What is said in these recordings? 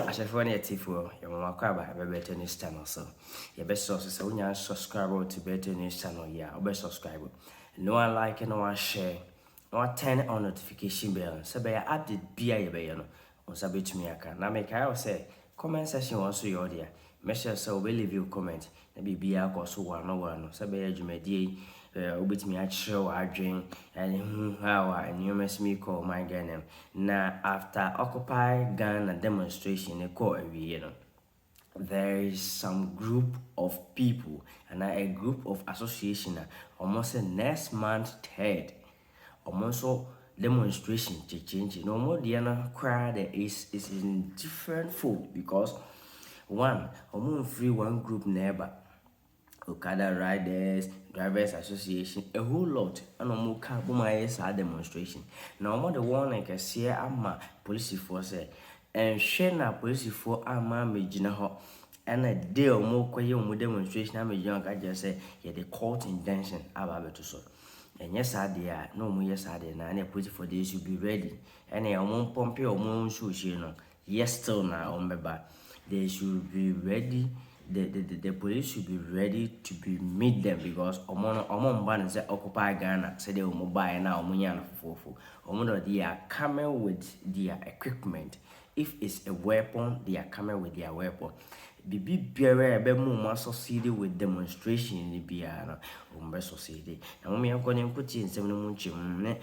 Ahyɛfoɔ ne atiefoɔ, yɛn nwa kɔ aba Bɛtɛ News Channel so. Yɛbɛ sɔ so sɛ wo nya subscribe to Bɛtɛ News Channel yi a, wobɛ subscribe. Na wa like na wa share. Na wa turn on notification bell sɛ bɛyɛ update bi a yɛbɛyɛ no, wo nsa bɛtumi aka. Na mekae wo sɛ, comment section wɔ nso yɛ wo dea. Make sure sɛ wobɛ leave wo comment. na biribiara kɔ so wɔ ano wɔ ano. Sɛ bɛyɛ dwumadie yi ɛɛ wobɛtumi akyerɛ w'adwen ɛho how a nneɛma si mi kɔ ɔman Ghana mu. Na after occupy Ghana demonstration no kɔɔ awieɛ no, there is some group of people anaa a group of association a wɔn se next month third Ɔmo nso demonstration kye change na ɔmo deɛ no koraa dɛ is is in different fold because one ɔmo nfiri one group na ɛba okada riders drivers association a whole lot ɛna ɔmo ka bom ayɛ saa demonstration na ɔmo de warning kɛseɛ ama polisifoɔ sɛ ɛnhwɛ na polisifoɔ ama amegyina hɔ ɛna de ɔmo kɔyɛ ɔmo demonstration amegyina hɔ ka kyerɛ sɛ yɛde cult intention aba abɛto so Anyɛ saa deɛ a, na wɔn yɛ saa deɛ na ɛna apolisifoɔ deɛ nso be ready. Ɛna yɛ wɔn mpɔmpe wɔn nsuohyire no, yɛ still na wɔn bɛba. They should be ready, the, the, the, the police should be ready to be meet them because wɔn no wɔn mba no sɛ occupy Ghana sɛdeɛ wɔn baeɛ na wɔn nya no fofofo. Wɔn deɛ they are coming with their equipment. If it's a weapon they are coming with their weapon biribi biara a ɛbɛma wɔn asɔseede with demonstration no biara no wɔn bɛ sɔseede na wɔn yɛn kɔ ne nkotie nsɛm no mu nkyɛn mu ne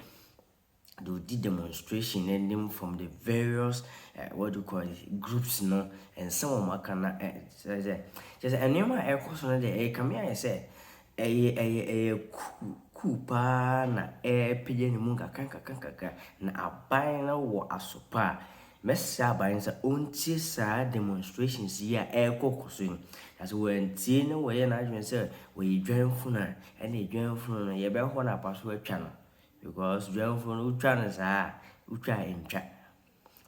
deɛ ɔdi demonstration no anim from the various uh, what do you call it groups no nsɛm wɔn aka na kyerɛ sɛ kyerɛ sɛ nneɛma a ɛkɔ so no deɛ ɛkame ayɛ sɛ Ɛyɛ ɛyɛ ɛyɛ kuu kuu pa ara na ɛrepagya ne mu nkakrankakra, na aban no wɔ aso pa a. Mɛsrɛ aban no sɛ ɔntie saa demonstrations yi a ɛrekɔkɔ so yi, na sɛ wantie na wayɛ n'adwene sɛ ɔyɛ dwanfunu a, ɛnneɛ dwanfunu no yɛbɛhɔ no apa so atwa no, because dwanfunu no wotwa no saa a, wotwa a ɛntwa.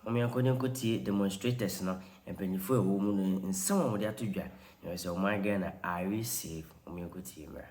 Hom yɛnkɔ na yenkotsie demonstrators no, mpanyimfo a wɔwɔ mu no nsɛm a wɔdze ato dwa na wɔsɛ wɔn ayɛ Ghana I receive. Hom yɛnkotsie mbra.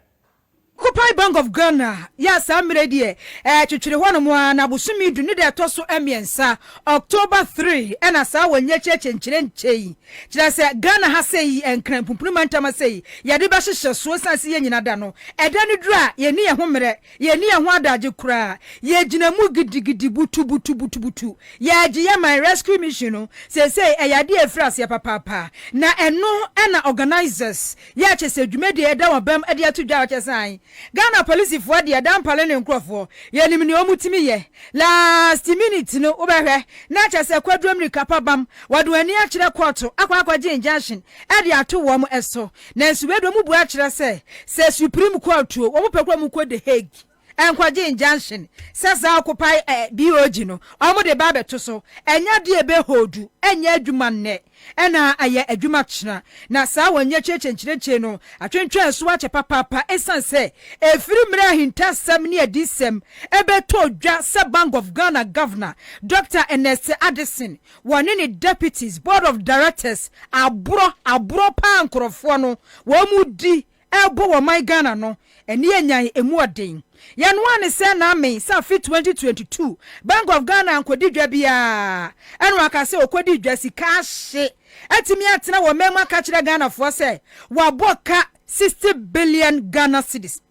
Copae Bank of Ghana yɛ a saa mmerɛ yi deɛ ɛretwetwere hɔnom ara na bosome du ne da ɛtɔ so mmiɛnsa, October three, ɛna saa wɔnnyɛkyɛ akyenkyerɛ nkyɛ yi. Kyerɛ sɛ Ghana ha sɛ yi Nkran Pumpuni Mantam ha sɛ yi yɛde bɛhyehyɛ so ɛsiane sɛ yɛn nyina da no ɛda no duru a yɛnni yɛn ho mmerɛ Yɛnni yɛn ho adagye koraa. Yɛgyina mu gidigidi, butubutubutubutu. Yɛagye yɛn man rescue mission no. Seesei ɛyɛ ade a ɛfiri aseɛ papaapa. Na ɛno na organisers yɛ kyɛ sɛ dwumadie a yɛda wɔn bam de ato dwa kyɛ sane. Ghana polisifoɔ deɛ, dampale ne nkorɔfoɔ, yɛnim nea wɔtumi yɛ. Last minute no wobɛhwɛ na kyɛ sɛ kwaduro mmirika pa bam, wɔde wɔn ani akyerɛ kɔɔto akɔ akɔgye injunction de ato wɔn so, nanso wei de wɔn bua kyerɛ sɛ, sɛ Supreme Court o, wɔn pɛ kura wɔn kɔ The Hague nkɔgye injunction sɛ saa occupy eh, BOG no wɔn de ba abɛto so, ɛnyɛ adeɛ ebe holdu, ɛnyɛ adwuma nnɛ, ɛna ayɛ adwuma kyena, na saa wɔn nyɛ kyerekye nkyerɛkyere no atwentwɛn so akyɛ papaapa esiane sɛ efiri mmerɛ ahintasɛm ne adiyisɛm ɛbɛtɔɔ dwa sɛ Bank of Ghana Governor Doctor Ernest Addison Wɔne ne deputies, board of directors, aborɔ, aborɔ paa nkorɔfoɔ no, wɔredi rebɔ wɔ ɔman Ghana no, ɛne yɛ nyan ɛmu ɔden. Yɛ noaa ne sɛ na me, sɛ afe 2022, Bank of Ghana ankɔdi dwa biara, ɛna waka sɛ ɔkɔdii dwa, sika ahye, atumi atena wɔ mɛmu akakyerɛ Ghanafoɔ sɛ, wabɔ ka 60 billion Ghana cedis.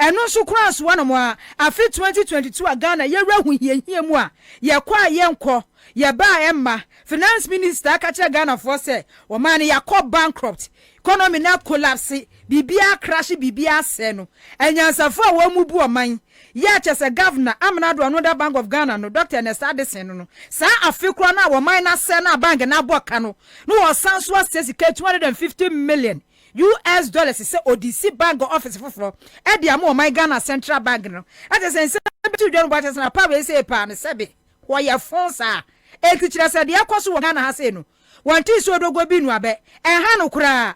Ɛno nso koraa soa nom ara. Afe twenty twenty two a Ghana yɛ wura ahohiahia mu a, yɛ kɔ a yɛ nkɔ, yɛ ba a ɛmma, Finance Minister aka kyerɛ Ghanafoɔ sɛ ɔman no yɛakɔ bankrupt, economy no akolapse, biribiara crashe, biribiara asɛe no, anyansafoɔ a wɔn mu bu ɔman yɛ a kyerɛ sɛ Governor, Amena Addo Anoda Bank of Ghana no, Doctor Ernest Addison no no, saa afe koraa no a ɔman no asɛe no a bank no abɔ ka no, na wɔsan nso asɛe sika two hundred and fifty million. US dollars sɛ ɔde si bank office foforɔ de ama ɔman Ghana Central Bank no, kyerɛ sɛ nsɛm bi to dwa no boa kyerɛ sɛ na power wei sei paa no sɛbe hɔ yɛ fo saa. Enti kyerɛ sɛ deɛ ɛkɔ so wɔ Ghana ha sei no wɔnte nsuo dogoɔ bi nnu abɛ, ɛnha no koraa.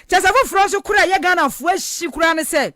Kyerɛ sɛ foforɔ nso koraa a ɛyɛ Ghanafoɔ ahyi koraa ne sɛ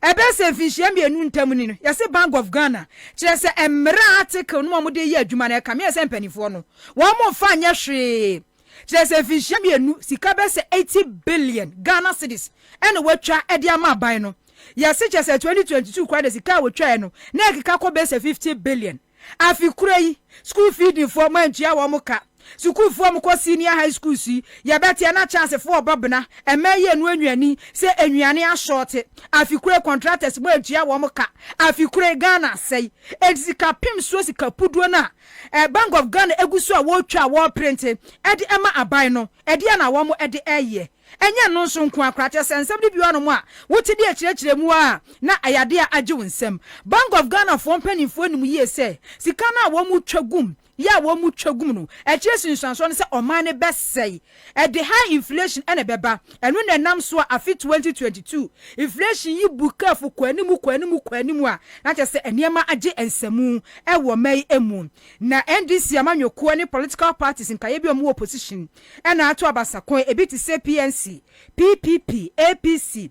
ɛbɛyɛ sɛ mfinhyia mmienu ntam ni no yɛse Bank of Ghana kyerɛ sɛ mmara a article no mu a wɔde reyɛ adwuma no ɛkame yɛ sɛ mpanimfoɔ no wɔn mfa nyɛ hwee. Kyerɛ sɛ mfinhyia mmienu sika bɛyɛ sɛ eighty billion Ghana cedis ɛna watwa de ama aban no. Yɛse kyerɛ sɛ twenty twenty two koraa deɛ sika a wɔtwaɛ no na ɛkeka kɔ bɛyɛ sɛ fifty billion. Afe korɔ yi school feeding foɔ moantua wɔn ka. Sukuufoɔ a wɔkɔ senior high schools yi yɛbɛteɛ na chance foɔ ɔba bena ɛmɛ yi anu anwia ni sɛ anuane ashorte. Afe korɔ yi contractors moantua wɔn ka. Afe korɔ yi Ghana asɛe enti sika pem soɔ sika puduo no a Eh, Bank of Ghana egu so a wɔretwa a wɔreprente de ma aban no, ɛdeɛn na wɔde reyɛ? Ɛnyɛ ɛno nso nko ara koraa, kyerɛ sɛ nsɛm no bi wɔ hɔnom a wote de akyerɛkyerɛ mu ara na ɛyɛ adeɛ a agye wo nsam. Bank of Ghana foɔ mpanimfoɔ nim yie sɛ sika no a wɔretwa gum yɛ a wɔretwa gum no, akyire nsunsuansoɔ ne sɛ ɔman no bɛsɛe. Ɛde high inflation na ɛbɛba. Ɛno na ɛnam so a afe 2022 inflation yi bu kɛɛfo kɔ anim kɔ anim kɔ anim a na kyerɛ sɛ nneɛma agye nsamu wɔ ɔma yi mu. Na NDC amanyɔkuo ne political parties nkaeɛ bi a wɔwɔ opposition na ato aba sa kɔn, ebi te sɛ PNC, PPP, APC,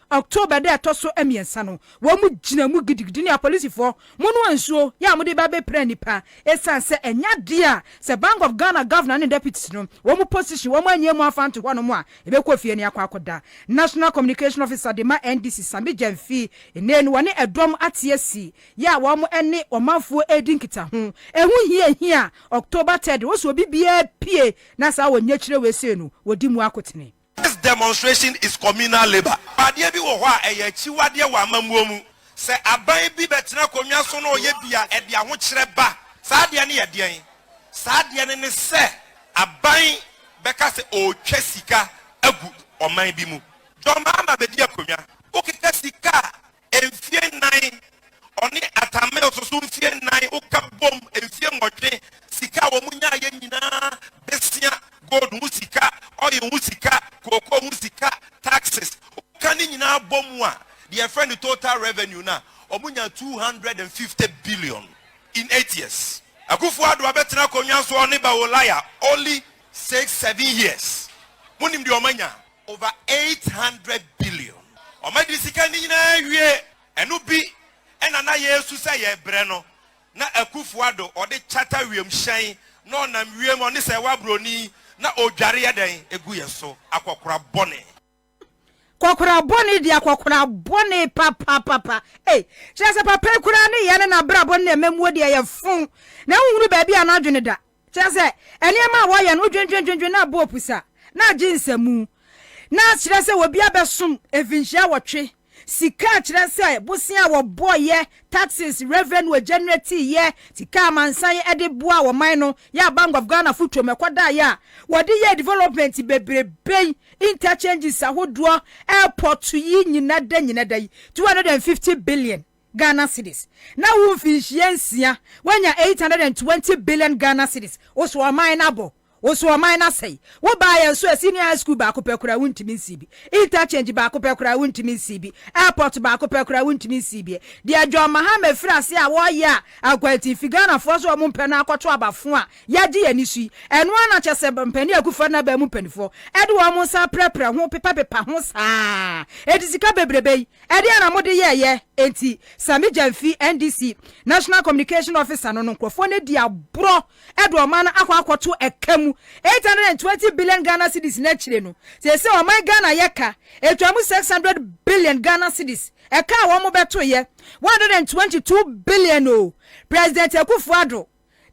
October da a ɛtɔ so mmiɛnsa no, wɔgyinaa mu gidigidi ne apolisifoɔ, monoa nsuo, yɛ a wɔde reba abɛpira nnipa, ɛsiane sɛ ɛnyɛ adeɛ a sɛ Bank of Ghana Governor ne Deputies no, wɔn position, wɔn annyɛ mu amfa anto hɔnom a, yɛbɛkɔ fie ne akɔ akɔda. National Communication Officer de ma NDC, Sambi Gyamfi, nnɛ no wɔne ɛdɔm ate asi, yɛ a wɔne ɔmanfoɔ redi nkitaho. Ɛho hia ehia a, October third, wɔsɛ obi biara pue na saa ɔnyakyire wei sei no, wɔdi mu akotene. This demonstration is communal labour. Adeɛ bi wɔ hɔ a ɛyɛ akyiwadeɛ wɔ amammuo mu. Sɛ aban bi bɛtena akonnwa so na ɔyɛ bi a, ɛde ahokyerɛ ba. Saa adeɛ no yɛ deɛn? Saa adeɛ no ne sɛ aban bɛka sɛ ɔretwa sika agu ɔman bi mu. Dɔmmaa ma bɛdi akonnwa. Wokeka sika a, Mfie nnan, ɔne Atta Mills nso mfie nnan, woka bom mfie nwɔtwe, sika a wɔn nyaeɛ nyinaa bɛsia, gold ho sika, oil ho sika, cocoa ho sika, taxes, woka ne nyinaa bom a, deɛ yɛfrɛ no total revenue no a, wɔn nyaa 250 billion in eight years. Akuffo Addo abɛtena akonnwa so ɔne Bawo Laya only six, seven years, monim deɛ wɔn anya? Over eight hundred billion ɔma de sika no nyinaa awie ɛno bi na na yɛresu sɛ yɛbrɛ no na Akufo Addo ɔde charter wiem hyɛn na ɔnam wiem ɔne sɛ wa broni na odware yɛ dɛn egu yɛ so akɔkora bɔne. Kɔkora bɔne di akɔkora bɔne papapapa ei kyerɛ sɛ papa yi koraa ne yɛ ne nabrabɔ ne na ɛmamuo deɛ yɛ fon na wo hunu baabi a na adwene da Kyerɛ sɛ, nneɛma a wɔyɛ no, wodwendwendwendwen na abɔ opusa na agye nsamu. Na kyerɛ sɛ, obiara bɛsom mfinhyia awɔtwe. Sika a kyerɛ sɛ, bosea a wɔbɔ yɛ, taxes, revenue a ɛgenerate yɛ, sika a amansan de boa ɔman no yɛ a Bank of Ghana fo twam ɛkɔdaa yɛ a wɔde yɛɛ development bebrebe yi, interchanges ahodoɔ, airport yi nyina da nyina da yi, two hundred and fifty billion. Ghana cedis na wo mfinhyia nsia wanya eight hundred and twenty billion Ghana cedis woso ɔman no abɔ woso ɔman no asɛe wo baa yɛn so ɛ senior high school baako pɛ koraa wontumi nsii bi interchange baako pɛ koraa wontumi nsii bi airport baako pɛ koraa wontumi nsii bi deɛ John Mahama firi ase a wɔyɛ a akwantin fi Ghana foɔ so a wɔn mpɛ no akɔto abafo a yɛagye yɛn ani so yi ɛno ara na kyɛ sɛ mpanin Akufo Addo n'abaa mu mpaninfoɔ ɛde wɔn nsa aprɛprɛ ho pepapepa ho saa ɛde sika bebrebe yi Ɛdeɛn na mode yɛɛyɛ? Enti Sammy Gyamfi, NDC National Communication Officer no no nkorɔfoɔ no adi aborɔ de ɔman no akɔ akɔto ɛka mu. Eight hundred and twenty billion Ghana cedis no akyire no, seesei ɔman Ghana yɛ ka ɛtwa mu six hundred billion Ghana cedis. Ɛka a wɔn bɛtoeɛ, one hundred and twenty two billion oo, President Akuffo Addo.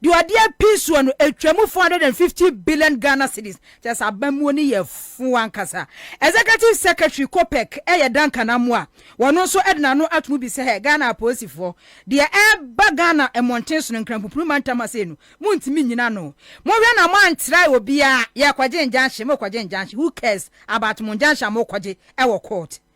Deɛ ɔde apii soɔ no, ɛtwaam 450 billion Ghana cedis, kyerɛ sɛ abammuo no yɛ fo ankasa. Executive Secretary COPEC yɛ Duncan Amoah, ɔno nso de n'ano ato mu bi sɛ, Ghana apolisifoɔ, deɛ ɛreba Ghana mmɔnten so no, Nkrampopuru mantam ha sei no, montumi nnyina ano. Monhwɛ na moantra obiara, yɛrekɔgye injunction, morekɔgye injunction, who cares about mo injunction a morekɔgye wɔ court?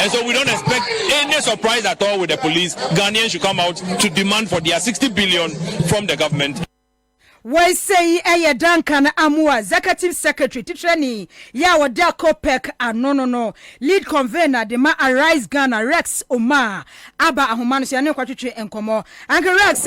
and so we don't expect any surprise at all with the police ghanaians should come out to demand for their 60 billion from the government wɔsɛi ɛyɛ duncan amoa executive secretary titrani yɛ a wɔda copec ano no no lead convener de ma arise ghana rex omaa aba ahoma no so yɛne nkɔtwetwe nkɔmmɔ anke rex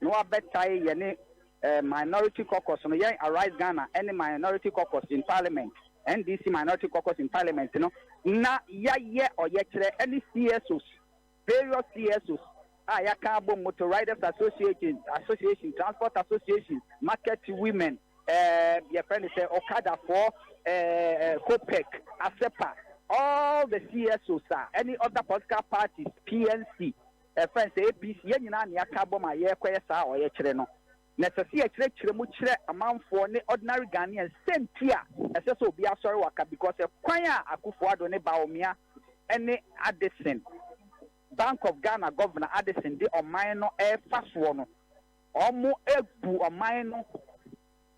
na wɔabɛtae yɛne eh, Minority Caucus no, yɛn Arise Ghana ne Minority Caucus in Parliament, NDC Minority Caucus in Parliament no, na yɛayɛ ɔyɛkyerɛ ne CSOs, various CSOs a yɛaka abom, Motor Riders Association, Association, Transport Association, Market Women, eh, yɛfrɛ no sɛ Okadafoɔ, eh, eh, COPEC, ASEPA, all the CSOs a, any other political parties, PNC, Ɛfa no sɛ APC, yɛn nyinaa na yɛaka abom a yɛrekɔyɛ saa ɔyɛkyerɛ no, na ɛsɛ sɛ yɛkyerɛkyerɛ mu kyerɛ amanfoɔ ne ordinary Ghanaians sɛ nti a ɛsɛ sɛ obiara sɔre waka because ɛkwan a Akuffo Addo ne Bawumia ne Addison, Bank of Ghana Governor Addison de ɔman no refa soɔ no, wɔabu ɔman no.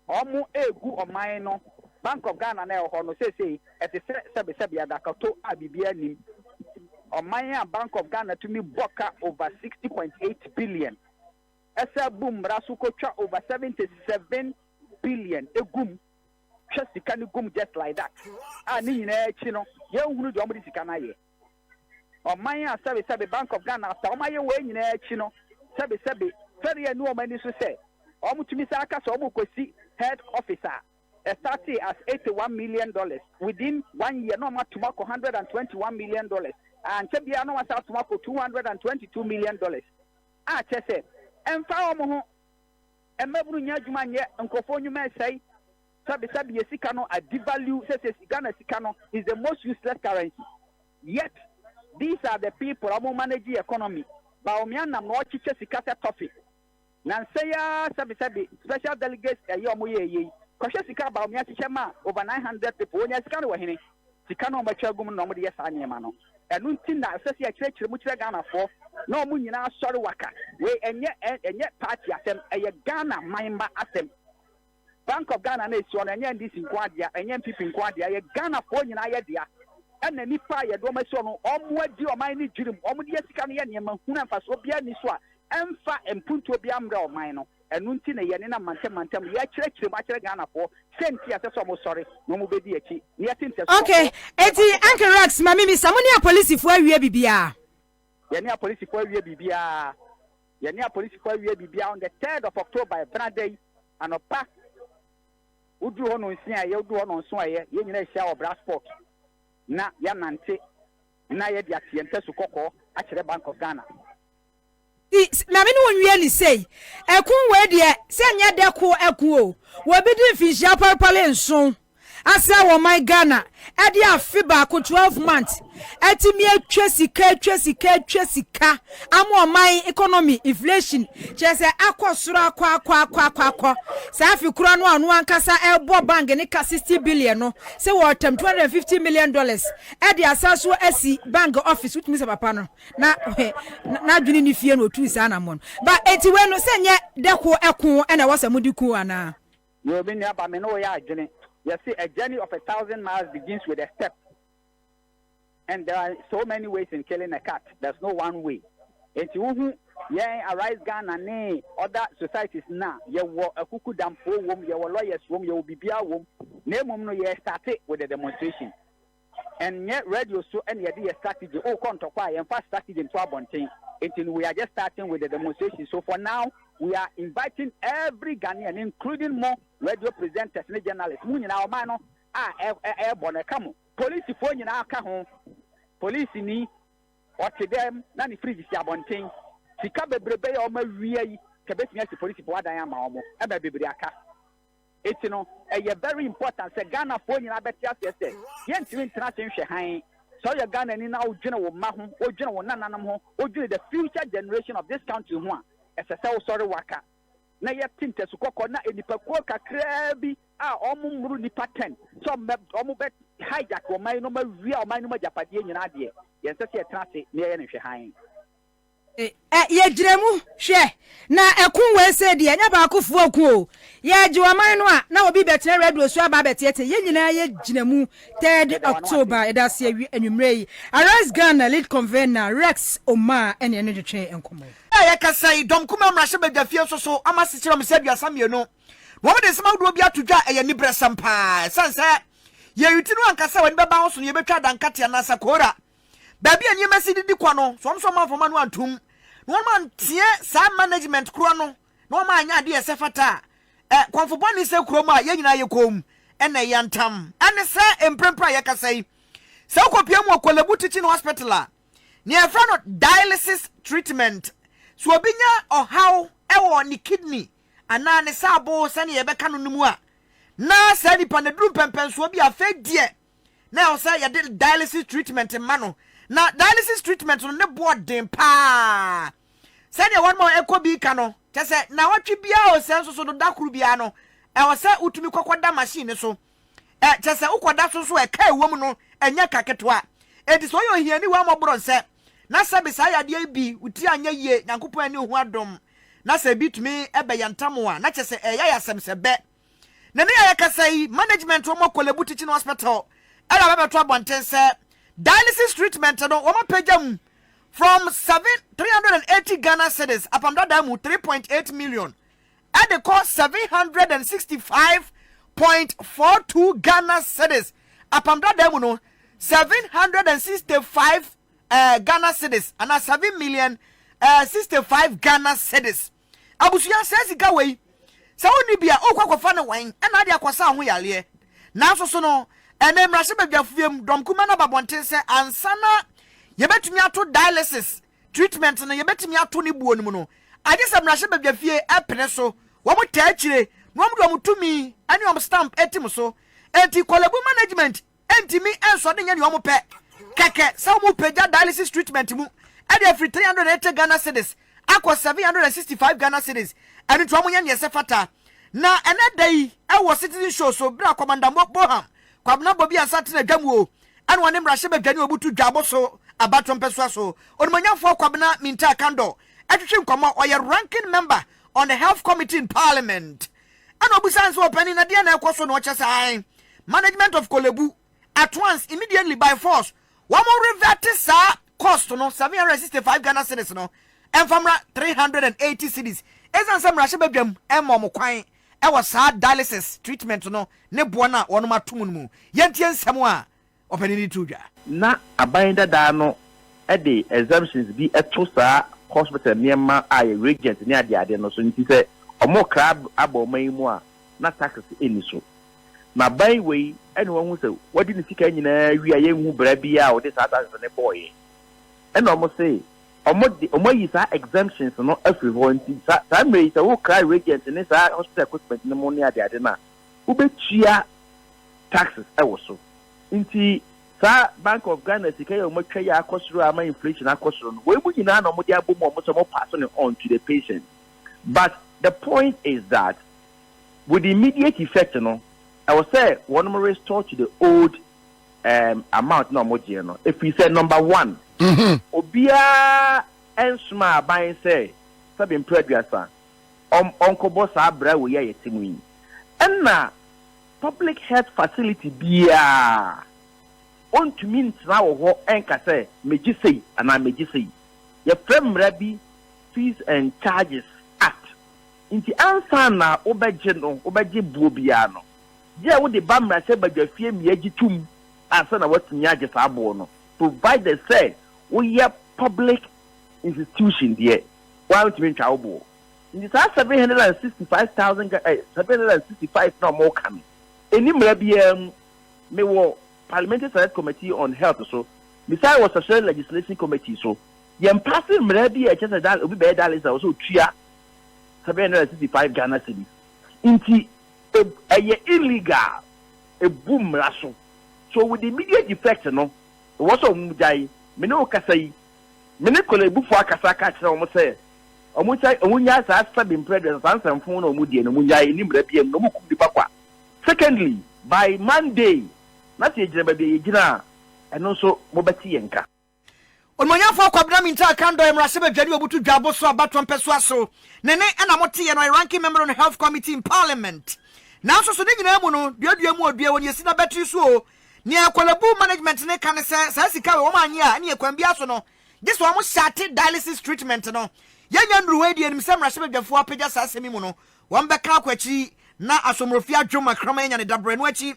Wɔregu ɔman no, Bank of Ghana no a ɛwɔ hɔ no seesei, ɛte sɛ sɛbesɛbe adakato a biribiara nnim. Ɔman a Bank of Ghana tumi bɔ ka over sixty point eight billion, ɛsan bu mmara so kotwa over seventy seven billion gu mu, twa sika no gu mu just like that, a ne nyinaa akyi no, yɛnhunu deɛ wɔde sika no ayɛ. Ɔman a sɛbe sɛbe Bank of Ghana asa wɔn ayɛ wei nyinaa akyi no, sɛbe sɛbe fɛre annu wɔn ani so sɛ wɔtumi san aka sɛ wɔrekɔsi head office a ɛstartee as eighty one million dollars, within one year na wɔatom akɔ one hundred and twenty one million dollars, a ankyɛ biara na wɔasan atom akɔ two hundred and twenty two million dollars. A kyerɛ sɛ, ɛmfa wɔn ho, mmabunu nyɛ adwuma nyɛ, nkurɔfoɔ nnwuma resɛe. Sɛbi sɛbi yɛ sika no a devalue sese Ghana sika no is the most useless currency yet these are the people a ɔmo manage economy Bawumia nam na ɔkyekyɛ sika sɛ tɔfe nansa yi ara sɛbi sɛbi special delegates ɛyɛ ɔmo yɛɛ yɛ yi kɔhwɛ sika a Bawumia kyekyɛ maa over nine hundred people ɔnya sika no wɔ hene sika no a ɔmo atwa agum no na ɔmo de yɛ saa nneɛma no ɛno nti na ɛsɛ sɛ yɛkyerɛkyerɛ mu kyerɛ Ghanafoɔ na ɔmo nyinaa asɔre waka wei ɛnyɛ ɛnyɛ party asɛm ɛyɛ Ghana man mma asɛm. Bank of Ghana no a ɛsi hɔ no, ɛnyɛ NDC nko ara dea, ɛnyɛ NPP nko ara dea, ɛyɛ Ghanafoɔ nyinaa yɛ dea. Ɛna nnipa a yɛde wɔn asi hɔ no, wɔadi ɔman no dwirim, wɔde yɛ sika no yɛ nneɛma hunu a mfasoɔ biara nni so a ɛmfa mpuntuo biara mmrɛ ɔman no. Ɛno nti na yɛnenam mantam mantam rekyerɛkyerɛ mu akyerɛ Ghanafoɔ sɛ nti a ɛsɛ sɛ wɔsɔre na wɔbɛdi akyi na yɛte ntɛsoɔ. Ok, enti Uncle Rex, ma memmisa, mo ne apolisifoɔ awie biribiara? Yɛne apolisifoɔ awie biribiara. Yɛne apolisifo awie biribiara on the third of October, ɛbena da yi anɔpa. Woduru hɔ nɔnsia a ɛyɛ, woduru hɔ nɔnson a ɛyɛ, yɛn nyinaa hyia wɔ Bra Sport na yɛanante na yɛde ate yɛn tasu kɔkɔɔ akyerɛ Bank of Ghana. Nti, ma me ne wo nwie no sei. Ɛko wei deɛ, sɛ ɛnyɛ dɛ ko ɛko o, wɔ bi di mfinhyia pɔrepɔre nson. Asɛ wɔ ɔman Ghana ɛde afe baako, 12 months, atumi atwa sika atwa sika atwa sika ama ɔman economy, inflation, kyerɛ sɛ akɔ soro akɔ akɔ akɔ akɔ akɔ. Saa afe koro ano a ɔno ankasa ɛrebɔ bank ne ka 60 billion no sɛ wɔretam 250 million dollars ɛde asan so asi bank office wotumi sɛ papa no na n'adwene nni fie na otuu saa anammɔn ba. Enti wei no sɛ nyɛ dɛ ko ɛko na ɛwɔ sɛ mode ku anaa? Yoo me nua ba me ne wo yɛ adwene yɛse a journey of a thousand miles begins with a step and there are so many ways in killing a cat there's no one way enti wo hu yɛn arise Ghana ne other societies na yɛwɔ akuku damfoɔ wom yɛwɔ lawyers wom yɛwɔ bibia wom na emom no yɛ starte with a demonstration Ɛnyɛ radio so na yɛde yɛ strategy, wokɔ ntɔkwa a yɛmfa strategy nto abɔnten, nti no we are just starting with the demonstration, so for now we are inviting every Ghanaian including mo radio presenters ne journalists, mo nyinaa ɔman no a ɛrebɔ no ɛka mo, polisifoɔ nyinaa ka ho, polisini ɔte dɛm na ne fridge si abɔnten, sika bebrebe a wɔawia yi nka bɛtumi asi polisifoɔ adan ama wɔn, ɛma bebree aka. Enti no, ɛyɛ very important sɛ Ghanafoɔ nyinaa bɛte aseɛ sɛ, yɛntumi ntena ase nhwɛ hann. Sɛ woyɛ Ghanani na wodwene wo mma ho, wodwene wo nananom ho, wodwene the future generation of this country ho a, ɛsɛ sɛ wosɔre waka na yɛte ntasu kɔkɔɔ na nnipakuo kakraa bi a wɔn mmoro nnipa ten sɛ wɔn bɛ wɔn bɛ hijack ɔman no ma wia ɔman no mu agyapadeɛ nyinaa deɛ, yɛnsɛ sɛ yɛtena ase na yɛyɛ no nhwɛhann. Ɛ, yɛgyina mu. Hwɛ, na ɛko wei sei deɛ, ɛnyɛ baakofoɔ ɔko o. Yɛregye ɔman no a, na obi rebɛtena radio so aba abɛteatea. Yɛn nyinaa yɛgyina mu. Third October, yɛda ase awi anwummerɛ yi. Arise Ghana lead convener, Rex Omaa, ɛne ɛno twetwee nkɔmmɔ yi. Bere a yɛrekasa yi, Dɔm Kumaa Mmarahyɛbadwafie nso so, wɔasekyerɛ wɔn sɛ aduasa mmienu, na wɔde nsɛm ahodoɔ bi ato dwa a ɛyɛ aniberesɛm paa. Ɛsiane sɛ yɛn ti no anka sɛ w'ani bɛba ho so no, yɛbɛtwa adankateɛ anaasɛ koora. Baabi a nneɛma si didi kɔ no, sɛ wɔn nso wɔamfa wɔn ano antom, na wɔn anteɛ saa management korɔ no, na wɔn anyɛ adeɛ a ɛsɛ fata a, ɛ, kɔmfo bɔne sɛ kurom a yɛn nyinaa yɛ komm na ɛyɛ ntam. Ɛne sɛ, mprempren a yɛkasa yi, sɛ wokɔpue mu wɔ Korle-Bu Teaching Hospital a, nea yɛfrɛ no dialysis treatment, sɛ obi nya ɔhaw wɔ ne kidney anaa ne saabo sɛnea yɛbɛka no no mu a, na saa nipa no aduru mpɛnpɛnsoɔ bi a afei deɛ, na ɛwɔ sɛ yɛde dialysis treatment ma no na dialysis treatment no ne boɔ den paa sɛdeɛ wɔn ma ɛkɔ bi ka no kyɛ sɛ na wɔtwe biara o sɛ nso so no da koro biara no ɛwɔ sɛ wotumi kɔkɔ da machine no so ɛ kyɛ sɛ wokɔda so nso ɛka ɛwɔ mu no ɛnyɛ ka ketewa enti sɛ ɔyɛ ohiani wɔn mmɔborɔ nsɛ na sɛ bi saa yadeɛ yi bi wo ti anyɛ yie nyankopɔn ani ho adom na sɛ bi tumi ɛbɛyɛ ntam a na kyɛ sɛ ɛyɛ asɛm sɛ bɛ Na nea yɛkasa yi, management wɔ Korle-Bu Teaching Hospital na wɔabɛto abɔnten sɛ dialysis treatment no wɔapagya mu from seven three hundred and eighty Ghana cedis apam dadaa mu three point eight million de kɔ seven hundred and sixty five point four two Ghana cedis apam dadaa mu no seven hundred and sixty five eh, Ghana cedis ana seven million eh, sixty five Ghana cedis. Abusua, saa sika wei, sɛ wonni bi a, wokɔ kɔfa ne wɛn na ade akɔsa wo ho yareɛ. Nanso so no, ɛnnɛ mmarahyɛbadwafuam dɔmkumaa no aba abɔnten sɛ ansa na yɛbɛtumi ato dialysis treatment no, yɛbɛtumi ato ne buo no mu no, agye sɛ mmarahyɛbadwafie pene so, wɔn taa akyire, na wɔde wɔn tumi ne wɔn stamp tim so. Enti Korle Bu Management Ɛntumi nsɔ de nyɛ nea wɔn pɛ kɛkɛ sɛ wɔn repagya dialysis treatment mu de afiri three hundred and eighty Ghana cedis akɔ seven hundred and sixty five Ghana cedis, ɛno nti wɔn nyɛ nea ɛsɛ fata. Na ɛnɛ da yi wɔ Citizen Show so bere a Kwamanda Mo Boham Kwabena Bobia nsa tena dwa mu o ɛna ɔne mmarahyɛ badwani obutu dwaabo so abatoɔ mpɛsoa so Onimonyamfoɔ Kwabena Mintaa Kandor ɛtwetwe nkɔmmɔ, ɔyɛ Ranking Member on the Health Committee in Parliament Ɛna ɔbisaa no sɛ, Ɔpanin, na deɛn na ɛrekɔ so na ɔkyɛ sɛ ae? Management of Korle Bu, at once, immediately, by force, wɔn revɛte saa cost no, seven hundred and sixty five Ghana cedis no, mfa mmra three hundred and eighty cedis, ɛsiane sɛ mmarahyɛbadwam mma wɔn kwan wɔ saa dialysis treatment no ne boɔ no a wɔnom ato mu no mu. Yɛntie nsɛm a. ɔpanin de too dwa. Ná aban dada no de exemptions bi to saa hospital nneɛma a ɛyɛ reagents ne adeade no so nti sɛ wɔkra aba ɔman yi mu a, na taxes nni so. Na aban wei na wɔahu sɛ wɔadi ne sika nyinaa awie a yɛnhu bra biara a wɔde saa taxes no bɔeɛ. Ɛna wɔse wɔde, wɔayi saa exemptions no afiri hɔ nti saa mmerɛ yi sɛ wokra reagents ne saa hospital equipment no mu ne adeade no a, wobɛtua taxes wɔ so. Nti saa Bank of Ghana sika yi a wɔatwa yi a akɔ soro a ama inflation akɔ soro no, wei mu nyinaa na wɔde abɔ mu a wɔn sɛ wɔn pass no on to the patient. But the point is that with the immediate effect no, ɛwɔ sɛ wɔn restore to the old um, amount na wɔn gyeɛ no. Ɛfiri sɛ number one, mm-hmm. obiara ɛnsoma aban sɛ sɛbi mpere aduasa. ɔnkɔbɔ saa bra wei a yɛte mu yi. Ɛna public health facility biara ɔntumi ntena wɔ hɔ nka sɛ megye sei anaa megye sei. Yɛfrɛ mmara bi Fees and Charges Act. Nti ansa na wobɛgye no, wobɛgye boɔ biara no, gye a wode ba mmarahyɛbadwafie ma yɛgye tom ansa na woatumi agye saa boɔ no, provided sɛ woyɛ public institution deɛ. Wɔantumi ntwa wo boɔ. Nti saa seven hundred and sixty five thousand Ga eh, seven hundred and sixty five na wɔreka no, ɛnni mmara biara mu. Mewɔ Parliamentary Select Committee on Health so, mesan wɔ Statutory Legislation Committee so. Yɛmpaase mmara bi a ɛkyerɛ sɛ da obi bɛyɛ dialysis a ɛwɔ sɛ ɔtua seven hundred and sixty five Ghana cedis. Nti ɛ ɛyɛ illegal, ɛbu mmara so. So with immediate effect no, ɛwɔ sɛ wɔgyae. Me ne wo kasa yi, Me ne Korebufo akasa ka kyerɛ wɔn sɛ wɔnhyɛ wɔn nnyae saa sɛbe mpere aduasa saa nsɛm fon na wɔn deɛ no wɔn nnyae ɛni mmara biam na wɔn kum nipa kwa secondly by Monday na sɛ yɛgyina baabi a yɛgyina a ɛno nso mo bɛte yɛn nka. Onuonyamfoɔ Kwabena Mintah Kandor Mmarahyɛbadwani Obutu Dwa Abosoɔ Abatoɔ Mpɛsoa so ne ne ɛna mo teɛ no ɔyɛ Ranking Member on Health Committee in Parliament nanso so ne nyinaa mu no duadua mu odua wɔ nea ɛsi n'abatiri so oo Nea Korle-Bu management no ka ne sɛ, saa sika wei wɔanyɛ a, ɛneɛ kwan biara so no, gye sɛ wɔn hyɛate dialysis treatment no. Yɛnnya nnuru hɔ yi de, yɛnim sɛ mmarahyɛbadwafoɔ apagya saa asɛm yi mu no, wɔn bɛka akɔ akyiri na Asomrofie adwom ma kraman anya ne dabrɛ. Ɛno akyi,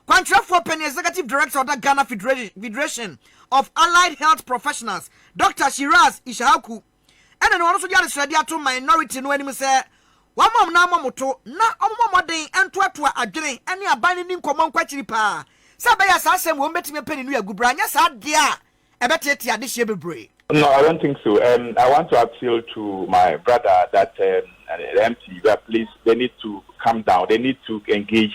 kwankyerɛfoɔ panin, Executive Director a ɔda Ghana Federation of Allied Health Professionals, Doctor Shiraz Ishaku, Ɛna no ɔno nso de adesrɛdeɛ ato minority no anim sɛ wɔmma wɔn nan mmɔ wɔn to na wɔmmɔ mmɔden ntoatoa adwene ne aban no nni nkɔmmɔ nkɔ akyiri pa ara sɛ ɛbɛyɛ a saa asɛm wei wɔbɛtumi apɛ ne nua agu berɛ a anyɛ saa deɛ a ɛbɛteetee adehyeɛ bebree. No I don't think so um I want to appeal to my brother that um the MP that please they need to come down they need to engage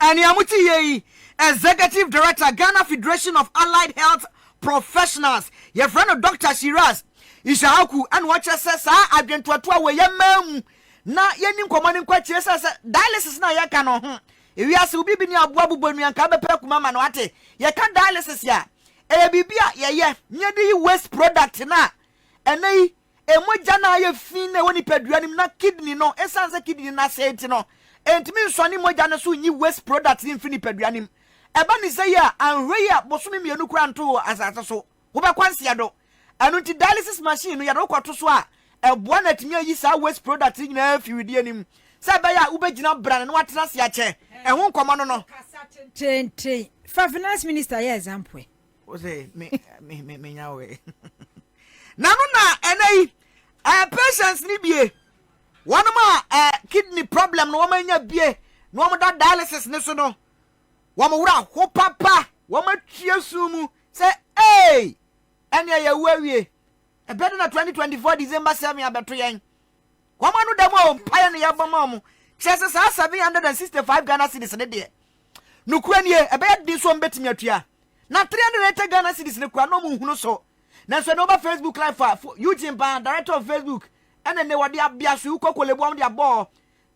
A nea mote yɛ yi, Executive Director, Ghana Federation of Allied Health Professionals, yɛfrɛ no Dɔkta Shiraz Ishaku, ɛna ɔkyerɛ sɛ saa adwentoatoa wɔ yɛn mmaa mu na yɛnni nkɔmmɔ no nkɔ akyire sɛ sɛ dialysis no a yɛka no ho ewiase obi bi ne aboa bobɔ nua nka bɛpɛ akuma ma no ate yɛka dialysis a ɛyɛ biribi a yɛyɛ ne yɛde yi waste product no a ɛnɛ yi Mogya no a ayɛ fi na ɛwɔ nipadua no mu na kidney no, esiane sɛ kidney no asɛe nti no, entumi nsɔne mogya no so nyi waste product no mfi nipadua no mu. Ɛba no sɛɛ a, anhwɛ yi a bosome mmienu koraa nto wɔ asase so, wobɛkɔ ansia do. Ɛno nti dialysis machine no, yɛde wo kɔto so a, ɛboa na atumi ayi saa waste product no nyinaa afi wedeɛ no mu sɛ ɛbɛyɛ a wobɛgyina brane na woatena ase akyɛ. Ɛho nkɔmmɔ no no. Ɔkasa tententen fa Finance Minister yɛ example ɛ. o sɛ me me me me nya wɛ nanu na ɛnɛ yi ɛɛ patients ni bie wɔn mu a ɛɛ kidney problem na wɔn anya bie na wɔn da dialysis ne so no wɔn wura ho papa wɔn atwie sun mu sɛ ee ɛnea yɛ wu awie ɛbɛ de na twenty twenty four december seven abɛto yɛn wɔn ano dɛm a wɔn mpaeɛ na yɛbɔ ma wɔn kyerɛ sɛ saa seven hundred and sixty five ghana cedis ne deɛ. Nokorɛ nie, ɛbɛyɛ den sɛ wɔbɛtumi atua. Na 380 Ghana cedis no koraa na wɔnhunu so. Nanso ɛnnɛ woba Facebook live a, Eugene Baa, Director of Facebook, ɛna ɛnnɛ wɔde abeasoe kɔkɔlebu a wɔde abɔɔ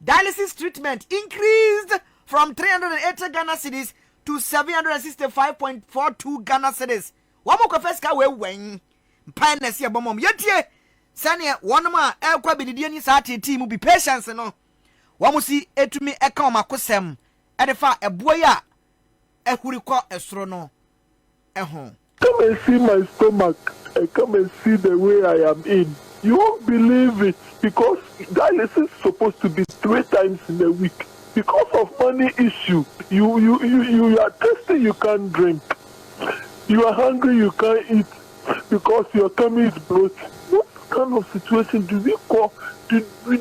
dialysis treatment increased from 380 Ghana cedis to 765.42 Ghana cedis. Wɔkɔfa sika wei wɛn? Mpae na ɛsɛ yɛbɔ ma wɔn. Yɛntie sɛdeɛ wɔnom a ɛrekɔ abɛdidie ne saa teetee mu bi, Patience no, wɔn si tumi ka wɔn akosɛm de fa ɛboɔ yi a ahuri kɔ soro no ho. Come and see my stomach and come and see the way I am in you won't believe it because dialysis is supposed to be three times in a week because of money issue you you you you are thirsty you can't drink you are hungry you can't eat because your tummy is bloated what kind of situation do we call do we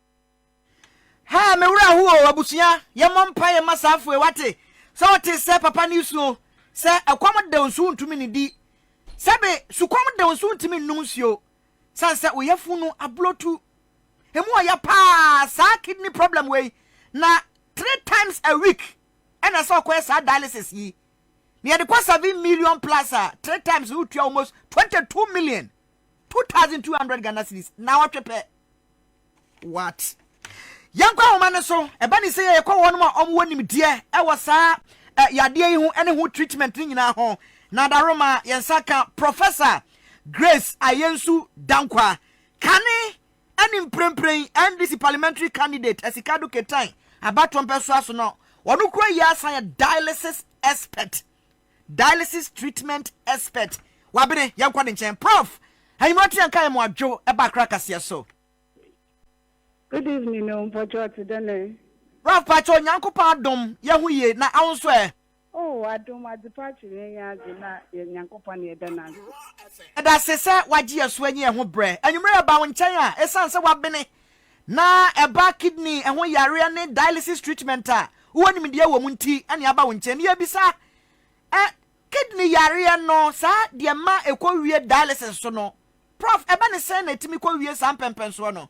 Haa me werɛ ahow o abusua yɛmmɔ mpaeɛ mma saa afoe wate sɛ ɔte sɛ papa no suo sɛ ɛkɔm dew nso wontumi nnidi sɛbe sukɔm dew nso wontumi nnum nsuo sane sɛ wo yafunu no ablotu ɛmu ɔya paa saa kidney problem wei na three times a week ɛna sɛ ɔkɔyɛ saa dialysis yi na yɛde kɔ seven million plus a three times no wotua almost 22 million 2200 Ghana cedis na ɔtwe pɛ What? Yɛnkɔ nhoma no so. Ɛba ne sɛ yɛ yɛkɔ wɔnom a wɔn wɔ nimdeɛ ɛwɔ saa ɛ yadeɛ yi ho ɛne ho treatment no nyinaa ho. Na Daroma yɛn nsa ka Professor Grace Ayensu Dankwah, kane ɛne mprenpren NDC Parliamentary Candidate Asikado Ketan abatoɔ mpɛsoa so no. Wɔn kura yi asan yɛ Dialysis Expert. Dialysis treatment expert Wabene yɛnkɔ ne nkyɛn Proff anwumera te yɛnka yɛn mo adwo ɛba Accra kaseɛ so. Good evening o mpɔkyɛ ɔte dɛn ɛ. Proff pakyɛw Nyankopɔn adom yɛ ho yie na awo nso ɛ. Oh adom adepa akyɛ yɛn yɛn ade na yɛ Nyankopɔn na yɛda no ase. Yɛda ase sɛ wagye yɛ so anyi yɛ ho brɛ anwumera yɛba wo nkyɛn a ɛsiane sɛ wabene Na ɛba kidney ho yareɛ ne dialysis treatment a, wowɔ nimdeɛ wɔ mu nti ne aba wo nkyɛn. Yɛbisa ɛ, kidney yareɛ no, saa deɛ ɛma ɛkɔ wie dialysis so no, Prof. Ɛba ne sɛn na ɛtumi kɔ wie saa mpɛnpɛnsoɔ no?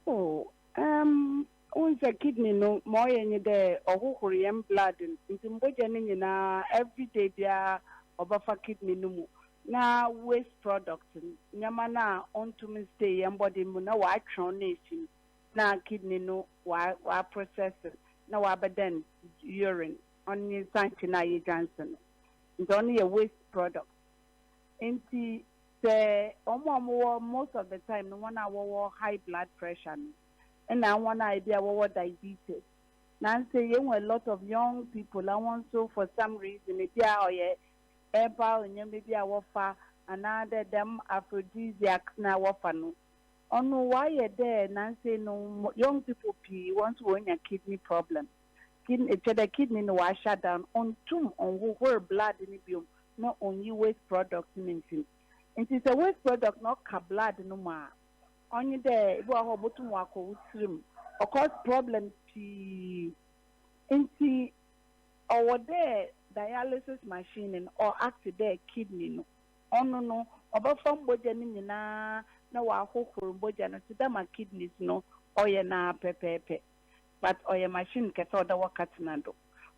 Oh, um, wohu sɛ kidney no, ma ɔyɛ nye dɛ ɔhohor hɛn blood no, ntsi mbɔgya no nyina everyday biara ɔbɛfa kidney no mu. na waste product no, nneɛma no a ɔntum nstay yɛn body no mu na watweɔn no afi mu na kidney no wa process no na wabɛdɛn urine, ɔno nye nsankye no a yegya nse no. Ntsi ɔno yɛ waste product. Ntsi sɛ wɔn a wɔwɔ most of the time no hɔn a wɔwɔ high blood pressure no na hɔn a ebi a wɔwɔ diabetes na nse yehu a lot of young people a hɔn so for some reason ebi a ɔyɛ herbal nneɛma bi a wɔfa anaa dɛ dɛm aphrodisiacs no a wɔfa no, ɔno ɔayɛ dɛ nansei no young people pii hɔn so wonya kidney problem. Kidney kyerɛ dɛ kidney no ɔa shut down, onntum nnhohor blood no bio na onnyi waste product no mfi mu. Ntsi sɛ waste product no ɔka blood no mu a, ɔnye dɛ bi wɔ hɔ a obotum ɔakɔ wo tsir mu, ɔcause problems pii. Ntsi. Ɔwɔ dɛ dialysis machine no ɔatse dɛ kidney no. Ɔno no, ɔbɛfa mbɔgya no nyina na ɔahohor mbɔgya no tse dɛ ma kidneys no ɔyɛ no ara pɛpɛɛpɛ. But ɔyɛ machine kɛse a ɔwɔ dɛ wɔka tsena do.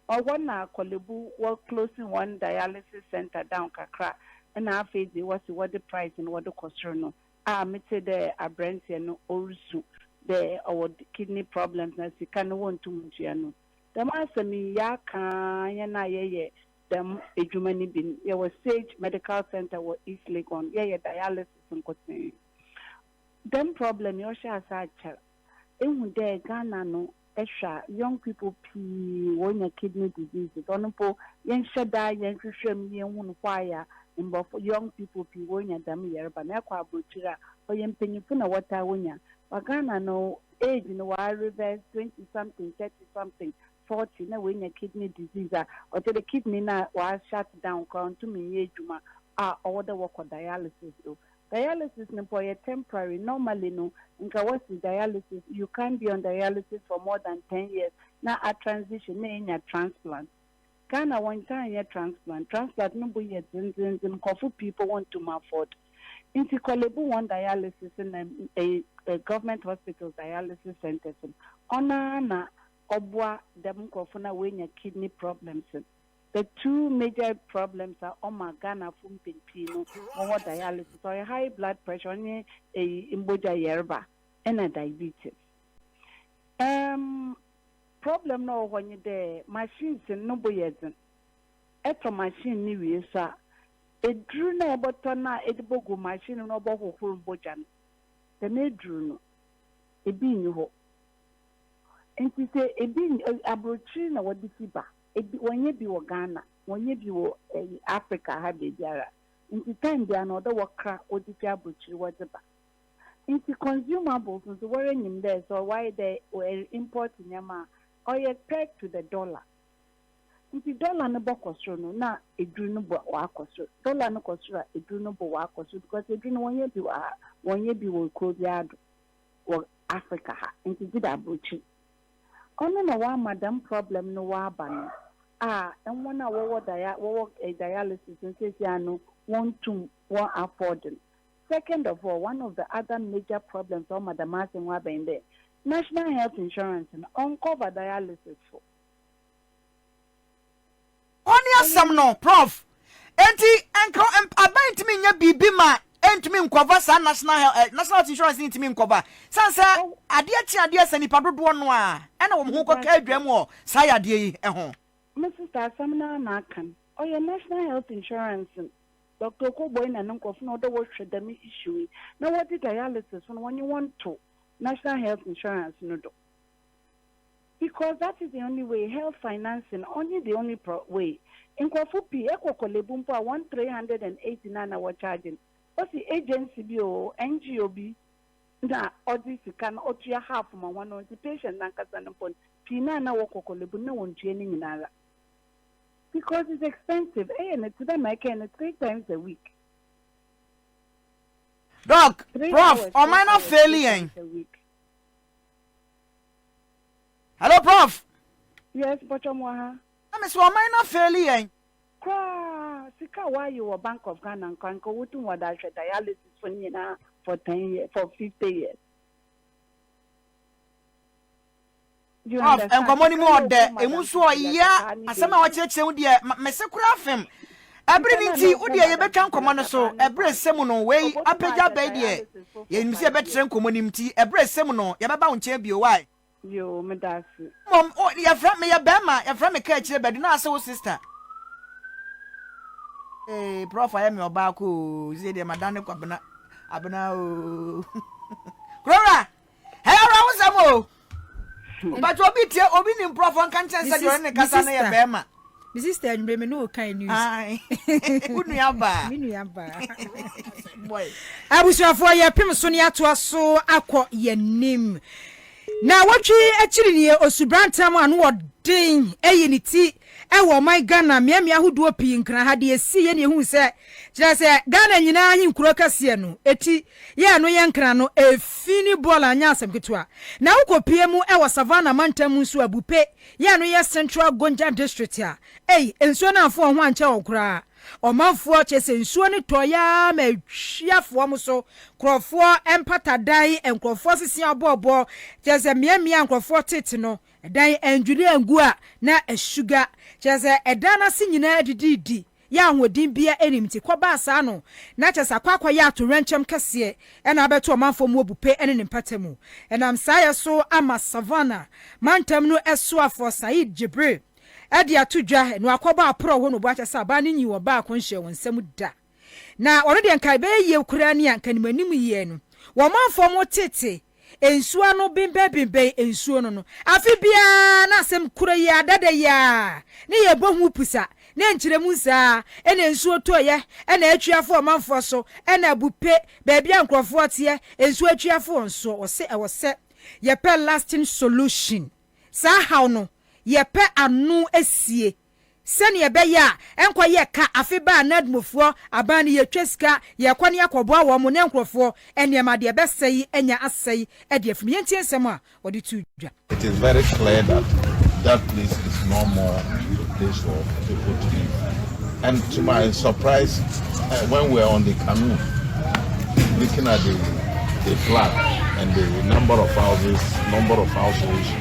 Ɔhɔ na Korle Bu wɔ close hɔn dialysis centre down kakra na afei dze wɔse wɔdze price no wɔdze kɔ sor no a metsee dɛ aberantsɛ no orusu dɛ ɔwɔ kidney problems na sika no wonntum nntua no. Dɛm asɛm yi, yɛakã hɛn a yɛyɛ dɛm edwuma no bi no. Yɛwɔ Sage Medical Centre wɔ East Legon, yɛyɛ dialysis nkotsee. Dɛm problem yi, ɔhyɛɛ ase akyɛr. Ehu dɛ Ghana no, ehwɛ a, young people pii wonya kidney diseases, ɔno mpo yɛnnhyɛ da yɛnnhwehwɛ mu yennhu no, why a Mborɔfo, young people pii wonya dɛm yarba no. Ekɔ aborɔkyir a, ɔyɛ mpanyimfo na wɔtaa wonya, but Ghana no, Age no waa reverse twenty something, thirty something, forty na w'anya kidney disease a ɔkyerɛ dɛ kidney no a wa shut down koraa ɔnntum nnyɛ edwuma a ɔwɔ dɛ wɔkɔ dialysis do. Dialysis no mpo ɔyɛ temporary, normally no nka wɔse dialysis you can't be on dialysis for more than ten years na a transition na enya transplant. Ghana wɔntaa nyɛ transplant, transplant no bo yɛ dzen dzen dzen nkorɔfo pii mpo wonntum afford ntsi Korle-Bu hɔn dialysis na government hospitals dialysis centres no ɔnoara na ɔboa dɛm nkorɔfo no a woenya kidney problems no, the two major problems a ɔma Ghanafo mpɛn pii no wɔwɔ dialysis ɔyɛ high blood pressure ɔnye eyi mbɔgya yarba na diabetes. Umm. Problem no a ɔwɔ hɔ nye dɛ machines no bo yɛ dzen. Etɔ machine no wie so a, edur no a ebɔtɔ no a edze bogu machine no mu na ɔbɔhohor mbɔgya no, dɛm edur no, bi nnyi hɔ. Ntsi sɛ bi nn ɛ, aborɔkyir na wɔdze fi ba. Bi, wɔnnyɛ bi wɔ Ghana, wɔnnyɛ bi wɔ ɛ, Africa ha beebiara. Ntsi time biara no, ɔwɔ dɛ wɔkra wɔdze fi aborɔkyir wɔdze ba. Ntsi consumables no so woara nyim dɛ sɛ ɔayɛ dɛ er import ndzɛmba a ɔyɛ pegged to the dollar. Ntsi dollar no bɔkɔ sor no na edur no bo ɔakɔ sor, dollar no kɔ sor a edur no bo ɔakɔ sor because edur no wɔnnyɛ bi wɔ ha, wɔnnyɛ bi wɔ kurow biara do wɔ Africa ha ntsi gyedɛ aborɔkyir. Ɔno na ɔama dɛm problem no ɔaba no a hɔn a wɔwɔ dia wɔwɔ dialysis no seseiara no wonntum wɔn afford no Second of all, one of the other major problems a ɔma dɛm asɛm ho aba nye dɛ, National Health Insurance no, ɔnnkɔver dialysis fo. Hɔ ne asɛm no, Prof. Enti nka aban ntumi nnyɛ biribi ma ɛntumi nkɔver saa National Health eh, National Health Insurance no ntumi nkɔver sane sɛ adeɛ kye adeɛ sa nnipa dodoɔ no ara ɛna wɔn ho kɔka adwaa mu wɔ saa yadeɛ yi ho. Me sister, asɛm no ara na aka no. Ɔyɛ National Health Insurance no Doctor Koboi na no nkorɔfo na ɔdɛ wɔhwɛ dɛm issue yi na wɔdze dialysis so no wɔnye hɔn to National Health Insurance no do because that is the only way health financing ɔnye the only pro way nkorɔfo pii ekɔ Korlebu mpo a hɔn three hundred and eighty na na wɔcharge no osi agency bi oo NGO bi na ɔdze sika no ɔtua half ma hɔn ntsi patient nankasa no mpo no pii na na wɔkɔ Korlebu no na wɔnntua ne nyinara. Because it's expensive ɛyɛ no tse dɛ ma ɛkɛɛ no three times a week. Doc, prof, ɔman no afeeli yɛn. Hello prof. Yes, mpɔtɔ mo aha. Na me se ɔman no afeeli yɛn. Koraa, sika waye wɔ Bank of Ghana nka nka wotum wɔde ahwɛ dialysis fo no nyinaa for ten years, for fifty years. Of nkɔmmɔ no mu ɔdɛ, emu nso ɔyea asɛm a ɔkyerɛkyerɛ mu deɛ mese koraa fem. Ɛbere no nti, wo deɛ yɛbɛtwa nkɔmmɔ no so. Ɛbere sɛ mu no, wei apagya aba yi deɛ, yɛnim sɛ yɛbɛtrɛ nkɔmmɔ no mu, nti ɛbere sɛ mu no, yɛbɛba wo nkyɛn bio. Wae. Yoo, meda ase. Mmom, o, yɛfrɛ, meyɛ bɛrima, yɛfrɛ me Kaakyire Badu, na ase wo sista. Ee, prɔf ayɛ me ɔbaako oo, sɛ deɛ madane kwabena, abena oo. Kurowura! Ɛyɛ awerɛhosɛm o. Hmm. But obi tie obi ni mprɔfo nka nkyɛn sɛ deɛ ɔne kasa no yɛ bɛrima. Me sister anwummerɛ me ne wo kan news. Wo nua baa. Me nua baa. Abusuafoɔ yɛ pem so ne atoa so akɔ yɛnim. Na wɔtwe akyiri nie osubrantam ano ɔden ayi ne ti Ɛwɔ ɔman Ghana mmeammea ahodoɔ pii nkran ha de yɛsii yɛ ne yɛhuu sɛ kyerɛ sɛ Ghana nyinaa ahenkuro kɛseɛ no ɛti yɛ ɛno yɛ nkran no ɛfi ne bɔɔl anyɛ asɛm ketewa na wokɔ pie mu ɛwɔ Savannah mantam mu nso a Bupe yɛ ɛno yɛ Central Gonja District a ei nsuo no amfo wɔn ho ankyɛ wɔn koraa ɔmanfoɔ kyerɛ sɛ nsuo no tɔeɛ ara ma ɛhwi afa wɔn so nkurɔfoɔ mpatadan nkurɔfoɔ sesea ɔbɔɔbɔɔ kyerɛ sɛ mmeammea nkurɔfoɔ tete no Ɛdan andwiri angu a na asuga, kyerɛ sɛ ɛdan no ase nyinaa adididi, yɛ ahoɔden biara nnim nti kɔ baa saa no, na kyerɛ sɛ akɔ akɔyɛ atoyerɛnkyɛm kɛseɛ na abɛto ɔmanfoɔ mu abupe ne ne mpata mu. Ɛnam saa yɛ so ama Savannah mantam no soafoɔ Saeed Jibril de ato dwa, na wakɔbɔ aporɔw hɔ nnoboakyɛ sɛ abaa no nyii ɔbaa kɔnhyia wɔ nsam da. Na ɔno deɛ nka ɛbɛyɛ yie koraa ni a nka nim anim yie no. Wɔ ɔmanfoɔ mo tete nsuo ano benbɛn benbɛn nsuo no no. Afe biara na asɛm korɔ yi ara dada yi ara ne yɛbɔ ho pusa na ɛnkyerɛ mu saa ara na nsuo tɔeɛ na atwi afa ɔmanfoɔ so na abu pe baabi a nkorɔfoɔ teɛ nsuo atwi afa wɔn soɔ. Wɔse ɛwɔ sɛ yɛpɛ lasting solution saa haw no yɛpɛ ano asie. Sɛnea ɛbɛyɛ a ɛnkɔyɛ ka afe ba a Nadmofoɔ aban no yɛtwa sika yɛkɔ ne akɔboa wɔn ne nkurɔfoɔ nneɛma deɛ ɛbɛsɛe yi anya asɛe de afim. Yɛntie nsɛm a wɔde too dwa. It is very clear that that place is no more a place for people to live and to my surprise uh, when we were on the canoe looking at the, the flag and the number of houses, number of households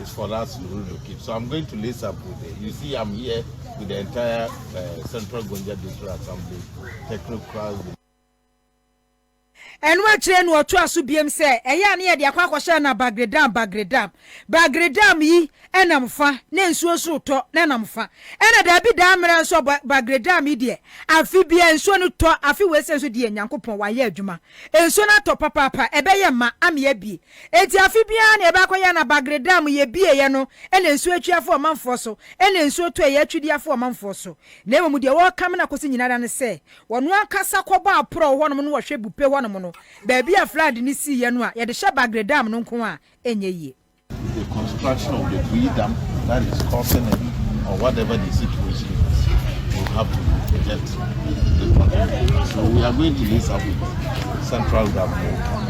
is for us to relocate. So I'm going to lace up with it. You see, I'm here with the entire uh, Central Gonja District Assembly technocrats. ɛno akyerɛ no ɔtoa so biam sɛ ɛyɛ a ne yɛde akɔ akɔhyɛ na bagredam bagredam bagredam yi ɛnam fa na nsuo so tɔ na ɛnam fa ɛna daabi daa mmerɛ nso bagredam yi deɛ afe bia nsuo no tɔ afe wei sɛ nso deɛ nyankopɔn wayɛ adwuma nsuo no atɔ papaapa ɛbɛyɛ ma ameɛ bie Enti afe biara nea ɛbɛakɔyɛ na Bagre Dam yɛbieeɛ no na nsuo atwi afa ɔmanfoɔ so na nsuo tɔeɛ atwi de afa ɔmanfoɔ so. Na mmom deɛ wɔrekame no akɔsi nyina ara ne sɛ wɔn ankasa kɔbɔ aporɔw hɔnom no wɔ Hwɛ Bupe hɔnom no baabi a flood no siiɛ no a yɛde hyɛ Bagre Dam no nko a ɛnyɛ yie. the construction of the Bui Dam that is causing it or whatever the situation is will have to be projected. So we are going to this up with central government.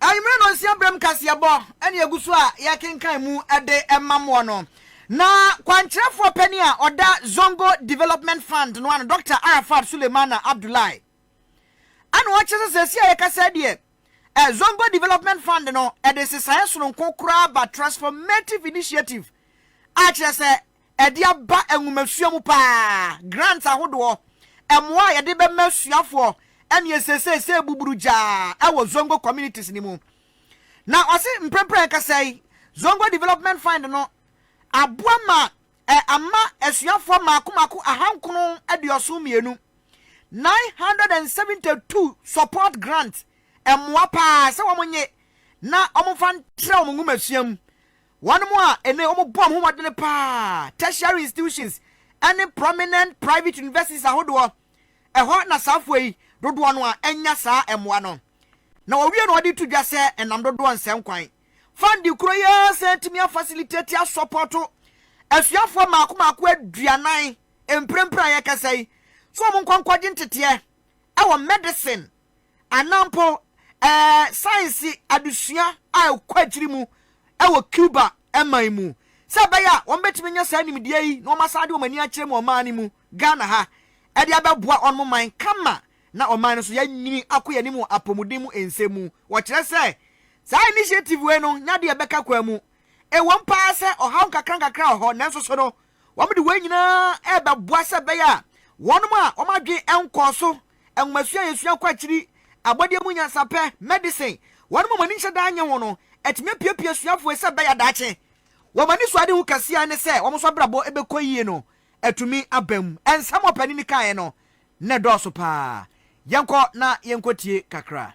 Anwummere nnɔnsia berɛm kaseɛbɔ ne ɛgu so a yɛkenkan mu de ma moɔ no, na kwankyerɛfoɔ panin a ɔda Zongo Development Fund no ano, Dɔkta Arafat Sulemana Abdullahi, ɛna ɔkyerɛ sɛ sɛsi a yɛkasa deɛ, eh, Zongo Development Fund no de sesaeɛ sononko koraa ba transformative initiative a kyerɛ sɛ Ɛde aba nwomasua mu paa. Grants ahodoɔ, mmoa a yɛde bɛma asuafoɔ ɛne ɛsesei sɛ ɛbuburu gyaa ɛwɔ Zongo communities no mu. Na ɔse mprɛmprɛ ankasa yi Zongo Development Fund no aboa ma ɛ ama asuafoɔ mmaako mmaako ahankoron aduɔson mmienu, 972 support grants, mmoa paa sɛ wɔn nye na wɔmfa ntra wɔn nwomasua mu Wɔnom a ene wɔn bɔ homɔdene paa, tertiary institutions ne prominent private universities ahodoɔ, ɛhɔ na saa foɔ yi dodoɔ no ara nya saa mmoa no. Na wɔwie na wɔde to dwa sɛ ɛnam dodoɔ nsɛnkwan fund koro yi ara sɛ atumi a facilitate a sɔpɔto asuafoɔ mmaako mmaako aduanan mprempren a yɛrekasa yi sɛ wɔn nkɔ nkɔgye nteteɛ wɔ medicine anaa mpo ɛɛ saense adesua a ɛkɔ akyiri mu wɔ Cuba man mu, sɛ ɛbɛyɛ a wɔbɛtumi anya saa nimdeɛ yi na wɔasan de wɔn ani akyerɛ mu ɔman no mu, Ghana ha, de abɛboa wɔn man kama na ɔman no nso yɛanyini akɔ yɛn anim wɔ apɔmuden mu nsɛm mu. Wɔkyerɛ sɛ saa initiative wei no nyɛ adeɛ a ɛbɛka kwan mu. Ɛwom paa sɛ ɔhaw nkakrankakra wɔ hɔ, nanso so no, wɔde wei nyinaa rebɛboa sɛ ɛbɛyɛ a wɔnom a wɔn adwene nkɔɔ so nwomasua a yesua kɔ akyiri, abɔdeɛ mu nyansapɛ, medicine, wɔnom a wɔn ani nhyɛ da nnye ho no, atumi apiapia asuafoɔ yi sɛ ɛbɛyɛ a daakye wɔn anisoadehu kɛseɛ a ɛne sɛ wɔn nso abrabɔ bɛkɔ yie no atumi aba mu. Nsɛm a ɔpanin no kaeɛ no na ɛdɔɔso pa ara. Yɛnkɔ na yɛnkɔtie kakra.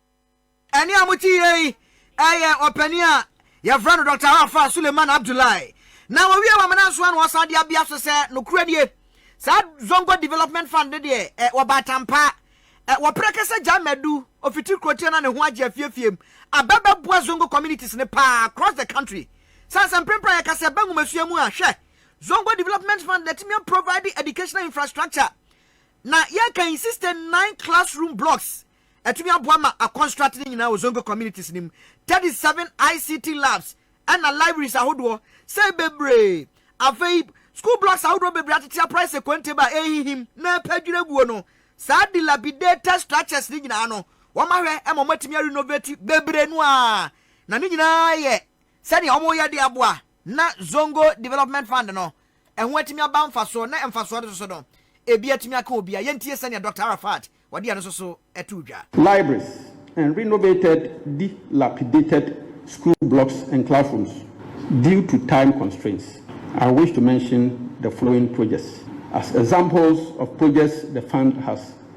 Ɛnne a mote yie yi yɛ ɔpanin a yɛfrɛ no Dɔkta Arafa Suleiman Abdullahi, na wɔwie wɔ Amena Nsoa na wɔsan de abea so sɛ nokorɛ nie. Saa Zongo Development Fund no deɛ, ɛ, wɔba atampaa. Ɛ, wɔprɛ kɛsɛ gyae Madu, ofiti Krotia na ne ho agye afiefie mu, aba bɛboa Zongo communities no pa ara across the country. Sane sɛ mprempren a yɛka sɛ yɛba nwomasua mu a, hwɛ, Zongo Development Fund na atumi aprovide educational infrastructure na yɛka yi 69 classroom blocks ɛtumi aboa ma akɔ strat no nyinaa wɔ zongo communities no mu, thirty seven ICT labs ɛna libraries ahodoɔ sɛɛ bebree. Afei school blocks ahodoɔ bebree atete aprae sɛ kɔnteb a ɛrehihim na ɛrepɛ dwiraguo no. Saa dilapidated structures no nyinaa no wɔahwɛ ma wɔatumi arenovate bebree no ara na ne nyinaa yɛ sɛdeɛ wɔreyɛ de aboa na zongo development fund no Ɛho atumi aba mfasoɔ na mfasoɔ no soso no ebi atumi aka obi a. Yɛntie sɛdeɛ Dɔkta Arafat ɔde ɛno soso too dwa. Libraries and renovated dilapidated school blocks and classrooms due to time constraints, I wish to mention the following projects as examples of projects the fund has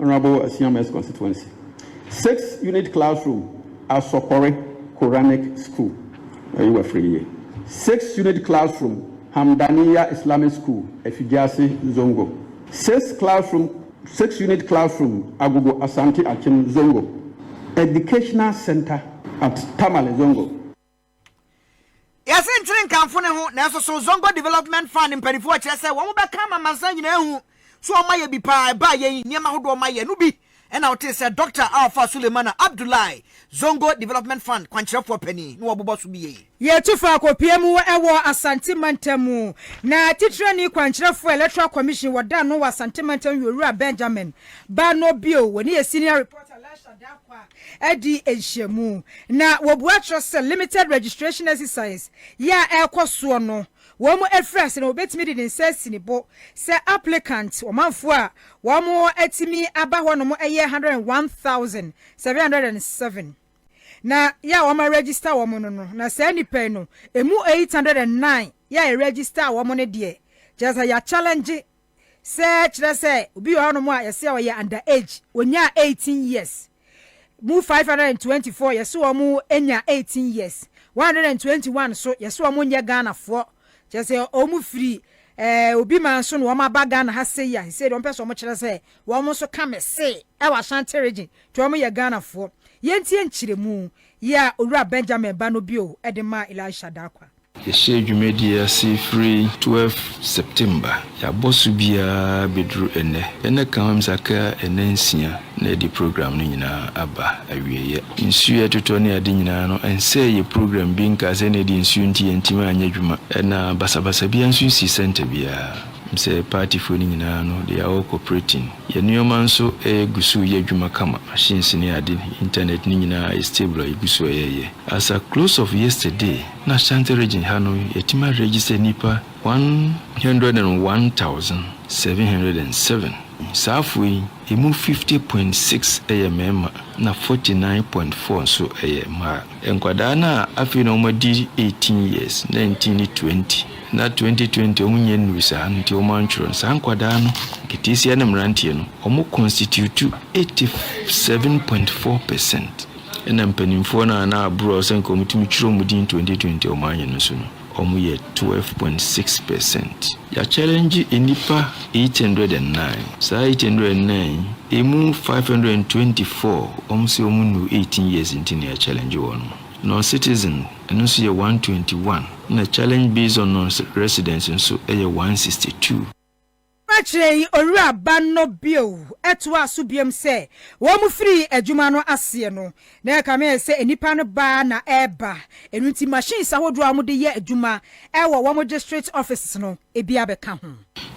Honourable Asiam West Constituency six unit classroom Asɔkɔre Quranic School Ayi wafiri yie six unit classroom Hamdaniya Islamic School Afigyase Zongo six classroom six unit classroom Agogo Asante Akyem Zongo Educational Centre at Tamale Zongo. Yɛse nkyere nkamfo ne ho, nanso so Zongo Development Fund mpaninfoɔ kyerɛ sɛ wɔn bɛka ama amansan nyinaa ahu sɛ wɔn ayɛ bi paa? Ɛbaa yɛn yi, nneɛma ahodoɔ wɔn ayɛ no bi na wotee sɛ Dɔkta Alfa Sulemana Abdullahi, Zongo Development Fund kwankyerɛfoɔ panin, na wɔbobɔ so bi yɛi. Yɛtu faa Kopie mu wɔ Asante Mantam mu, na Titrani Kwankyerɛfoɔ Electoral Commission wɔ da no wɔ Asante Mantam yɛ Owura Benjamin Bano Bio, wɔne yɛ Senior Reporter Laisha Darkwah. adi nhyiamu, na wɔbua kyerɛ sɛ Limited Registration Exercise yi a ɛrekɔ soɔ no, wɔn afiri ase na wɔbɛtumi de ne nsa asi ne bo sɛ applicant, ɔmanfoɔ a wɔatumi aba hɔnom yɛ 101,707, na yɛ a wɔn aregister wɔn no no, na saa nnipa yi no, ɛmu 809 yɛ a yɛregister wɔn no deɛ, kyerɛ sɛ yɛachallenge Sɛ kyerɛ sɛ obi wɔ hɔnom a yɛse ɔyɛ under age, onyaa eighteen years, mu five hundred and twenty four yɛse wɔn nya eighteen years, one hundred and twenty one nso yɛse wɔn nyɛ Ghana foɔ, kyerɛ sɛ wɔn firi eh, Obi man so na wɔn aba Ghana ha sei a, sei de wɔn pɛ sɛ wɔn kyerɛ sɛ wɔn nso ka me se ɛwɔ Ashanti region nti wɔn yɛ Ghana foɔ. Yɛntie nkyerɛmu yi a Owura Benjamin Ba no bio de maa Elisha Darkwah. Yɛhyɛɛ dwumadie ase firi 12 September. Yɛabɔ so biara bɛduru ɛnnɛ. Yɛne Kams aka nna nsia na yɛde program no nyinaa aba awieeɛ. Nsuo a ɛtotɔ ne ade nyinaa no ɛnsɛee yɛn program bi nkaa sɛ na ɛdeɛ nsuo nti yɛntumi anyɛ adwuma. Ɛna basabasa biara nso nsii center biara. Menim sɛ partyfoɔ no nyinaa no they are all cooperating. Yɛn nneɛma nso ɛgu so reyɛ adwuma kama. Machines ne ade, internet ne nyinaa ayɛ stable a yɛgu so reyɛ. As at close of yesterday, N'Ashanti Region ha no, yɛatumi a register nnipa one hundred and one thousand, seven hundred and seven. Saafoɔ yi, ɛmu fifty point six yɛ mmarima na forty nine point four nso yɛ mmaa. Nkwadaa no a afei na wɔadi eighteen years, nineteen ne twenty, na twenty twenty wɔn nyɛ nnuru saa no nti wɔantwerɛ no, saa nkwadaa no, nketeesia ne mmeranteɛ no, wɔconstitute eighty seven point four percent. Nna mpanyimfoɔ no a na aboro a ɔsɛ nka wɔtumi twerɛ wɔn din twenty twenty a wɔanyɛ no so no, wɔyɛ twelve point six percent. Yɛakyɛlɛngye nnipa eight hundred and nine. Saa eight hundred and nine yi, ɛmu five hundred and twenty four, wɔn sɛ wɔn nnuu eighteen years nti na yɛakyɛlɛngye wɔn. Non-citizen, ɛno nso yɛ one twenty one, ɛna challenge based on non-residents nso yɛ one sixty two. Ɔkyerɛkyerɛɛ yi Owura Ban no bio toaa so biom sɛ, Wɔn firii adwuma no aseɛ no, na ɛkame ayɛ sɛ nnipa no baa na ɛreba, ɛno nti machines ahodoɔ a wɔde yɛ adwuma wɔ wɔn district offices no bi abɛka ho.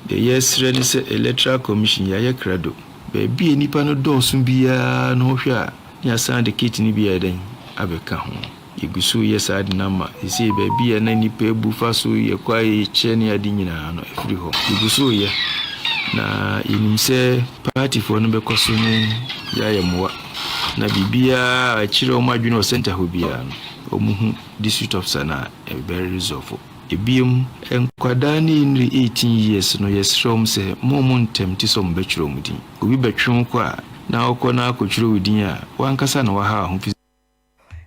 Deɛ yɛresrɛ ne sɛ Electoral Commission yɛayɛ krado. Baabi a nnipa no dɔɔso biara no wohwɛ a, ne yɛasan de kit no bi ayɛ dɛn abɛka ho. Yegu so yɛ saa denam ma seesei baabi a na nnipa abu fa so yɛ kwae kyɛ ne ade nyinaa no, afiri hɔ. Yegu so reyɛ, na yenim sɛ paatifoɔ no bɛkɔ so ne yɛn ayɛ mmoa, na biribiara a ɛkyerɛ wɔn adwene wɔ sɛnta hɔ biara no, wɔhu District Officer no a, ɛbɛ resolve o. Ebiem, nkwadaa ne nniri 18 years no, yɛsrɛ wɔn sɛ mma wɔn ntɛmte sɛ wɔbɛtwerɛ wɔn din. Obi bɛtwe wo kɔ a, na wokɔ na akɔtwerɛ wo din a, w'ankasa na woahaw ho fi.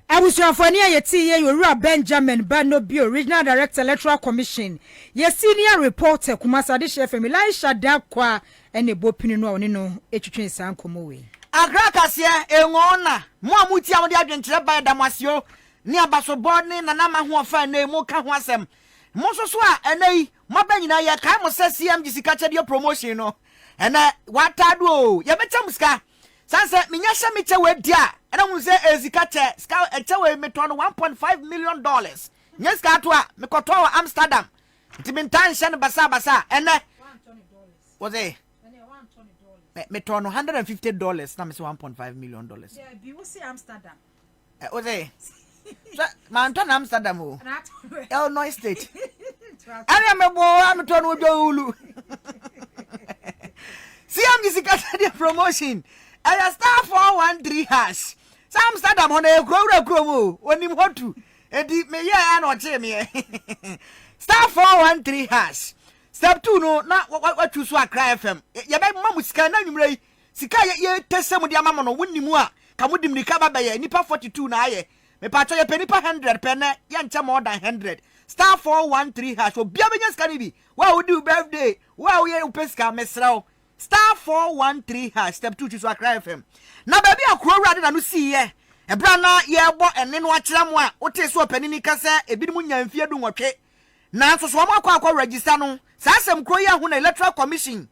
Abusuafo ani a yɛtee yɛn Owura Benjamin Ba Nobio, Regional Director Electoral Commission, yɛn Senior Reporter Kumasi Adehyeɛ FM, Elisha Darkwaa na ɛbɔ pini no a ɔne no twetwee saa nkɔmmɔ wei. Accra Kaseɛ, Engoona, Mo a motie a mode adwenkyerɛ ba yɛda mo ase o, ne abasobɔ ne Nana Mahoɔfa a ɛnnɛ yi moka ho asɛm. Mo nso so a ɛnnɛ yi moaba nyinaa yɛkae mo sɛ CMG Sikakyɛdeɛ Promotion no ɛnnɛ wɔatado o, yɛbɛkyɛ mo sika. Sane sɛ menya hyɛ me kyɛ wei di a, ɛna hu sɛ ɛyɛ sika kyɛ. Sika ɛkyɛ wei metɔɔ no one point five million dollars. Nyɛ sika ato a, mekɔtɔɔ wɔ Amsterdam. Nti mentaa nhyɛ no basabasa a, ɛnɛ. Wɔsɛ metɔɔ no hundred and fifty dollars na mesɛ one point five million dollars. Dabi, wose Amsterdam. Ɛ o se hwɛ mantɔ n'Amsterdam o Illinois state ɛne mebɔ a metɔ no odwa owulu CMG sikasɛdeɛ promotion ɛyɛ star 413 hash sɛ Amsterdam hɔ no ɛyɛ kuro wura kurom o onim hɔ tu edi meyɛ a na ɔkyee meɛ star 413 hash step 2 no na watwu so Accra FM yɛbɛma mo sika na nwummerɛ yi Sika a yɛ pɛ sɛ mo de ama mo no wo nni mu a ka mo de mirika ba bɛyɛ nipa forty two na ayɛ mepakyɛw yɛ pɛ nipa hundred pɛ nɛ yɛ nkyɛ more than hundred star four one three hash obia bɛnya sika no bi wo a wo di wo birthday wo a wo yɛ wo pɛ sika mesrɛ wo star four one three hash step two twi so akra fm na baabi a kuro wura de na no sii yɛ ɛberɛ a na yɛ bɔ ɛne no akyerɛ mo a wo tee so ɔpanini ka sɛ ebinom nya mfie du nwɔtwe nanso so wɔn akɔ akɔ register no saa asɛm kuro yi ahu na electoral commission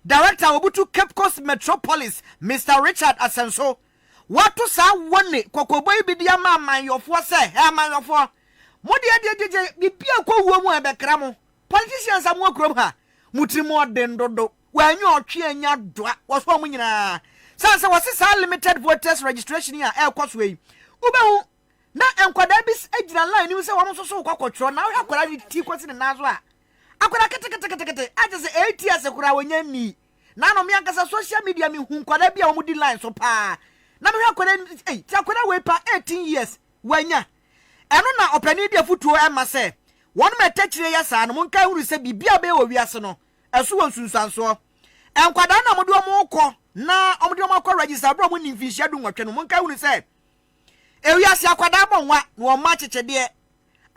Director a obutu Cape Coast Metro Police Mister Richard Asenso wato saa wɔ ne kɔkɔbɔ yi bi de ama amanyɔfoɔ sɛ hɛ amanyɔfoɔ mo deɛ deɛ gyegye bibi a ɛkɔ wuo mu a ɛbɛkra mo politicians a mo wɔ kurom ha mo tiri mu ɔden dodo wɔanya ɔtwe anya doa wɔso wɔn nyinaa sane sɛ wɔse saa limited voters registration yi a ɛkɔ soɔ yi wobɛhu Na nkwadaa bi gyina line no mu sɛ wɔn nso so rekɔ akɔtwerɛ. Na wohwɛ akwadaa no ti kɔsi ne nan so a, akwadaa keteketekete a kyerɛ sɛ ɛreti ase koraa wɔnya nni. Na ano me ankasa social media mehu nkwadaa bi a wɔdi line so paa. Na mehwɛ akwadaa no sɛ ei, sɛ akwadaa wei pa 18 years wanya. Ɛno na ɔpanin de afotuo ma sɛ, Wɔn ma atɛkyire yɛ saa no, monkae hunu sɛ biribiara a wɔbɛyɛ wɔ wiase no, ɛso wɔ nsunsuansoɔ. Nkwadaa no a wɔde wɔn rekɔ na wɔde wɔn akɔ register berɛ a wɔnni mfinhyia dunwɔtwe no, monkae hunu sɛ, Ewiase akwadaa bɔ nwa na wɔma akyekyedeɛ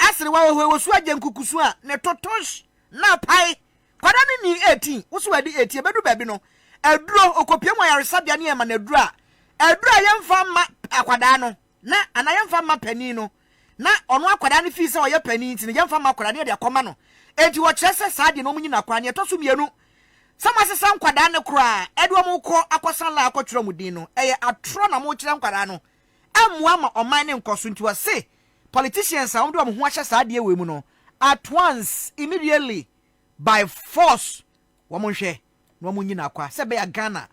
aserewa wɔ hɔ wɔsu agye nkukusu a ne totosh na apae kwadaa no nnii 18 wo sɛ wadi 18 ɛbɛduru baabi no aduro ɔkɔpie mu ayaresabea ne ɛma no aduro a aduro a yɛmfa mma akwadaa no na anaa yɛmfa mma panin no na ɔno akwadaa no fii sɛ ɔyɛ panin nti no yɛmfa mma akwadaa no yɛde akɔma no enti wɔkyerɛ sɛ saa deɛ no ɔmo nyina akwadaa no yɛtɔ so mmienu Sɛ moasesa nkwadaa no koraa ɛde wɔn rekɔ akɔsa la akɔtwerɛ wɔn din no ɛyɛ atorɔ na mokyerɛ nkwadaa no ɛmmoa ama ɔman no nkɔ so nti wɔse politicians a wɔde wɔn ho ahyɛ saa adeɛ wei mu no at once immediately by force wɔn nhwɛ na wɔn nyi no akwa sɛ ɛbɛya Ghana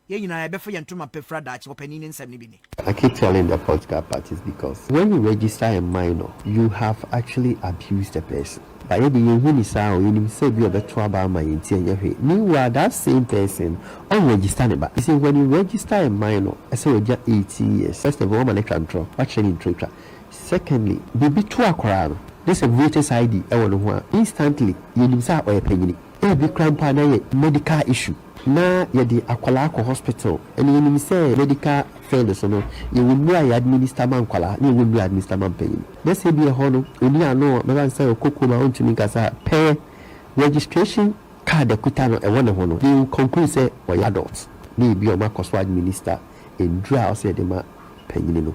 Yɛn nyinaa yɛbɛfa yɛn ntoma pa fira daakye, ɔpanin ne nsɛm no bi ni. I keep telling the political parties because when you register a minor you have actually abused the person but yɛde yɛn hu no saa o yɛnim sɛ ebi ɔbɛto aba ama yɛn nti ɛnyɛ hwee meanwhile that same person ɔn register ne ba nti when you register a minor ɛsɛ wagya eighteen years first of all wama no atwa ntorɔ wakyerɛ ne ntorɔ twa secondly biribi to akwaraa no ne sɛ voters ID ɛwɔ ne ho a instantly yɛnim sɛ ɔyɛ panyini. Ebi koraa mpo a na yɛ medical issue na yɛde akwadaa kɔ hospital ɛna yɛnim sɛ medical field so no yɛwɔ nnuro a yɛ administer ma nkwadaa na yɛwɔ nnuro a yɛ administer ma mpanin na sɛ ebi ɛhɔ no ɔni ano a bɛba no sɛ ɔkɔ kurom a ɔntumi nkasa a pɛ registration card akuta no ɛwɔ ne ho no they will conclude sɛ ɔyɛ adult na ebi a wɔakɔ so administer nnuro a ɔsɛ yɛde ma mpanin no.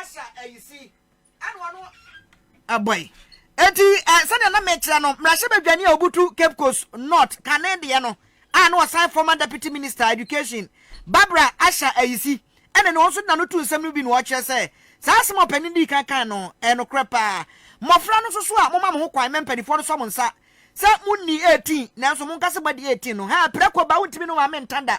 Asa ayisi ɛna ɔno ɛbɔe. Enti eh, sɛdeɛ na mekyerɛ no, mmarahyɛbadwani a ɔbutu Cape Coast North kane deɛ no a na ɔsan former Deputy Minister Education Barbara Asha Ayisi ɛna ni, ɔno nso de n'ano to nsɛm no bi na ɔkyerɛ sɛ saa asɛm a ɔpanin dii kan kae no ɛyɛ nokorɛ paa. Mmɔfra no nso so a, momma mo ho kwan ma mpanimfoɔ no sɔ mo nsa sɛ monni 18 nanso monka sɛ moadi 18 no, haa prɛko ba wontumi ne wo maame nta da.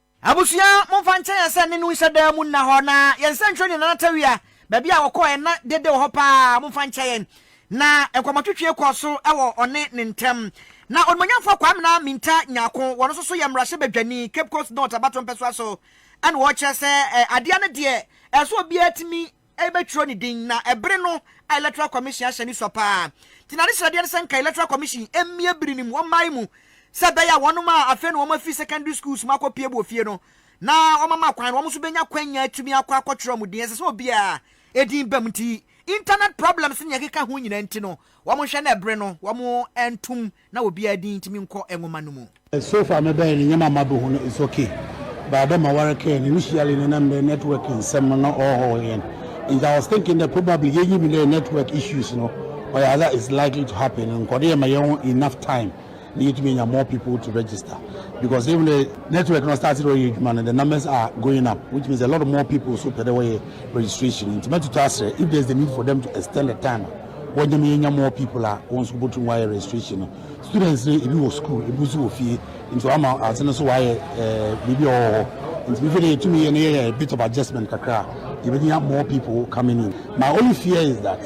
Abusua, momfa nkyɛ yɛn sɛ ne no nhyɛ daa mu nna hɔ, na yɛn nsɛnkyerɛ ne nanatawia, baabi a wɔkɔɔ ɛnna dede wɔ hɔ paa, momfa nkyɛ yɛn. Na nkɔmmɔtwetwe kɔɔ so wɔ ɔne ne ntam. Na Onimuonyamfoɔ Kwamina Minta Nyarko, wɔn nso so yɛ mmarahyɛbadwani, Cape Coast North abatompɛsoa so, na ɔrekyerɛ sɛ adeɛ no deɛ ɛsɛ sɛ obiara tumi rebɛtwerɛ ne din na ɛbere no a Electoral Commission ahyɛ ne sua paa nti na ne srɛdeɛ ne sɛ nka Electoral Commission mmie bere no mu wɔ mmaeɛ mu sɛ ɛbɛyɛ a wɔnom a afei na wɔafiri secondary schools mu akɔpue wɔ fie no na wɔama kwan no wɔn nso bɛnya kwanya atumi akɔ akɔtwerɛ wɔn din ɛsɛ sɛ obiara din bam nti internet problems ne deɛ ɛkeka ho nyinaa nti no wɔn nhwɛ na ɛbere no wɔn ntom na obiara din ntimi nkɔ nwoma no mu. So far me bɛyɛ no nyɛma a mabɛhu no it's ok but dɛ ma ware kɛɛ no initially no na mbrɛ network nsɛm no ɔhɔhow hɛn ntsi I was thinking dɛ probably yenyim dɛ network issues no ɔyɛ adze a it's likely to happen no nkɔdo yɛ ma yɛho enough time na yetumi enya more people to register because even the network no start dɛ ɔyɛ edwuma no the numbers are going up which means a lot of more people so pɛ dɛ wɔyɛ registration ntsi mɛtoto aserɛ if there's the need for them to extend the time a wɔnyɛ me yɛnya more people a wɔn nso bɔtum wɔayɛ registration no students no ebi wɔ school ebi nso wɔ fie nti wɔama ase no so wɔayɛ ɛɛ biribi a wɔwɔ hɔ nti before de yɛtumi yɛ no yɛyɛ a bit of adjustment kakra yɛbɛnya more people coming in my only fear is that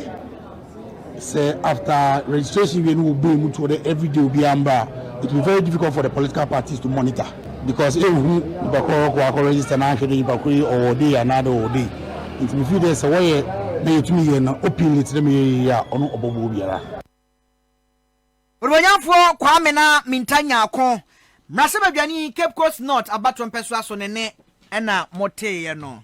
sɛ after registration wie no wɔbue mu to ɔdɛ everyday obiara mbra it will be very difficult for the political parties to monitor because ehu nyimpa kor ɔkɔ akɔ register na annhwɛ dɛ nyimpa kor yi ɔwɔ day anaa dɛ ɔwɔ day ntsi me feel dɛ sɛ wɔyɛ na yetum yɛ no openly tse dɛ meyɛ yi yie a ɔno ɔbɔboa obiara. Onuonyamfoɔ Kwame na Minta Nyarko, Mmarahyɛbadwani Cape Coast North abatoɔ mpɛsoa so no ne na moteeɛ no.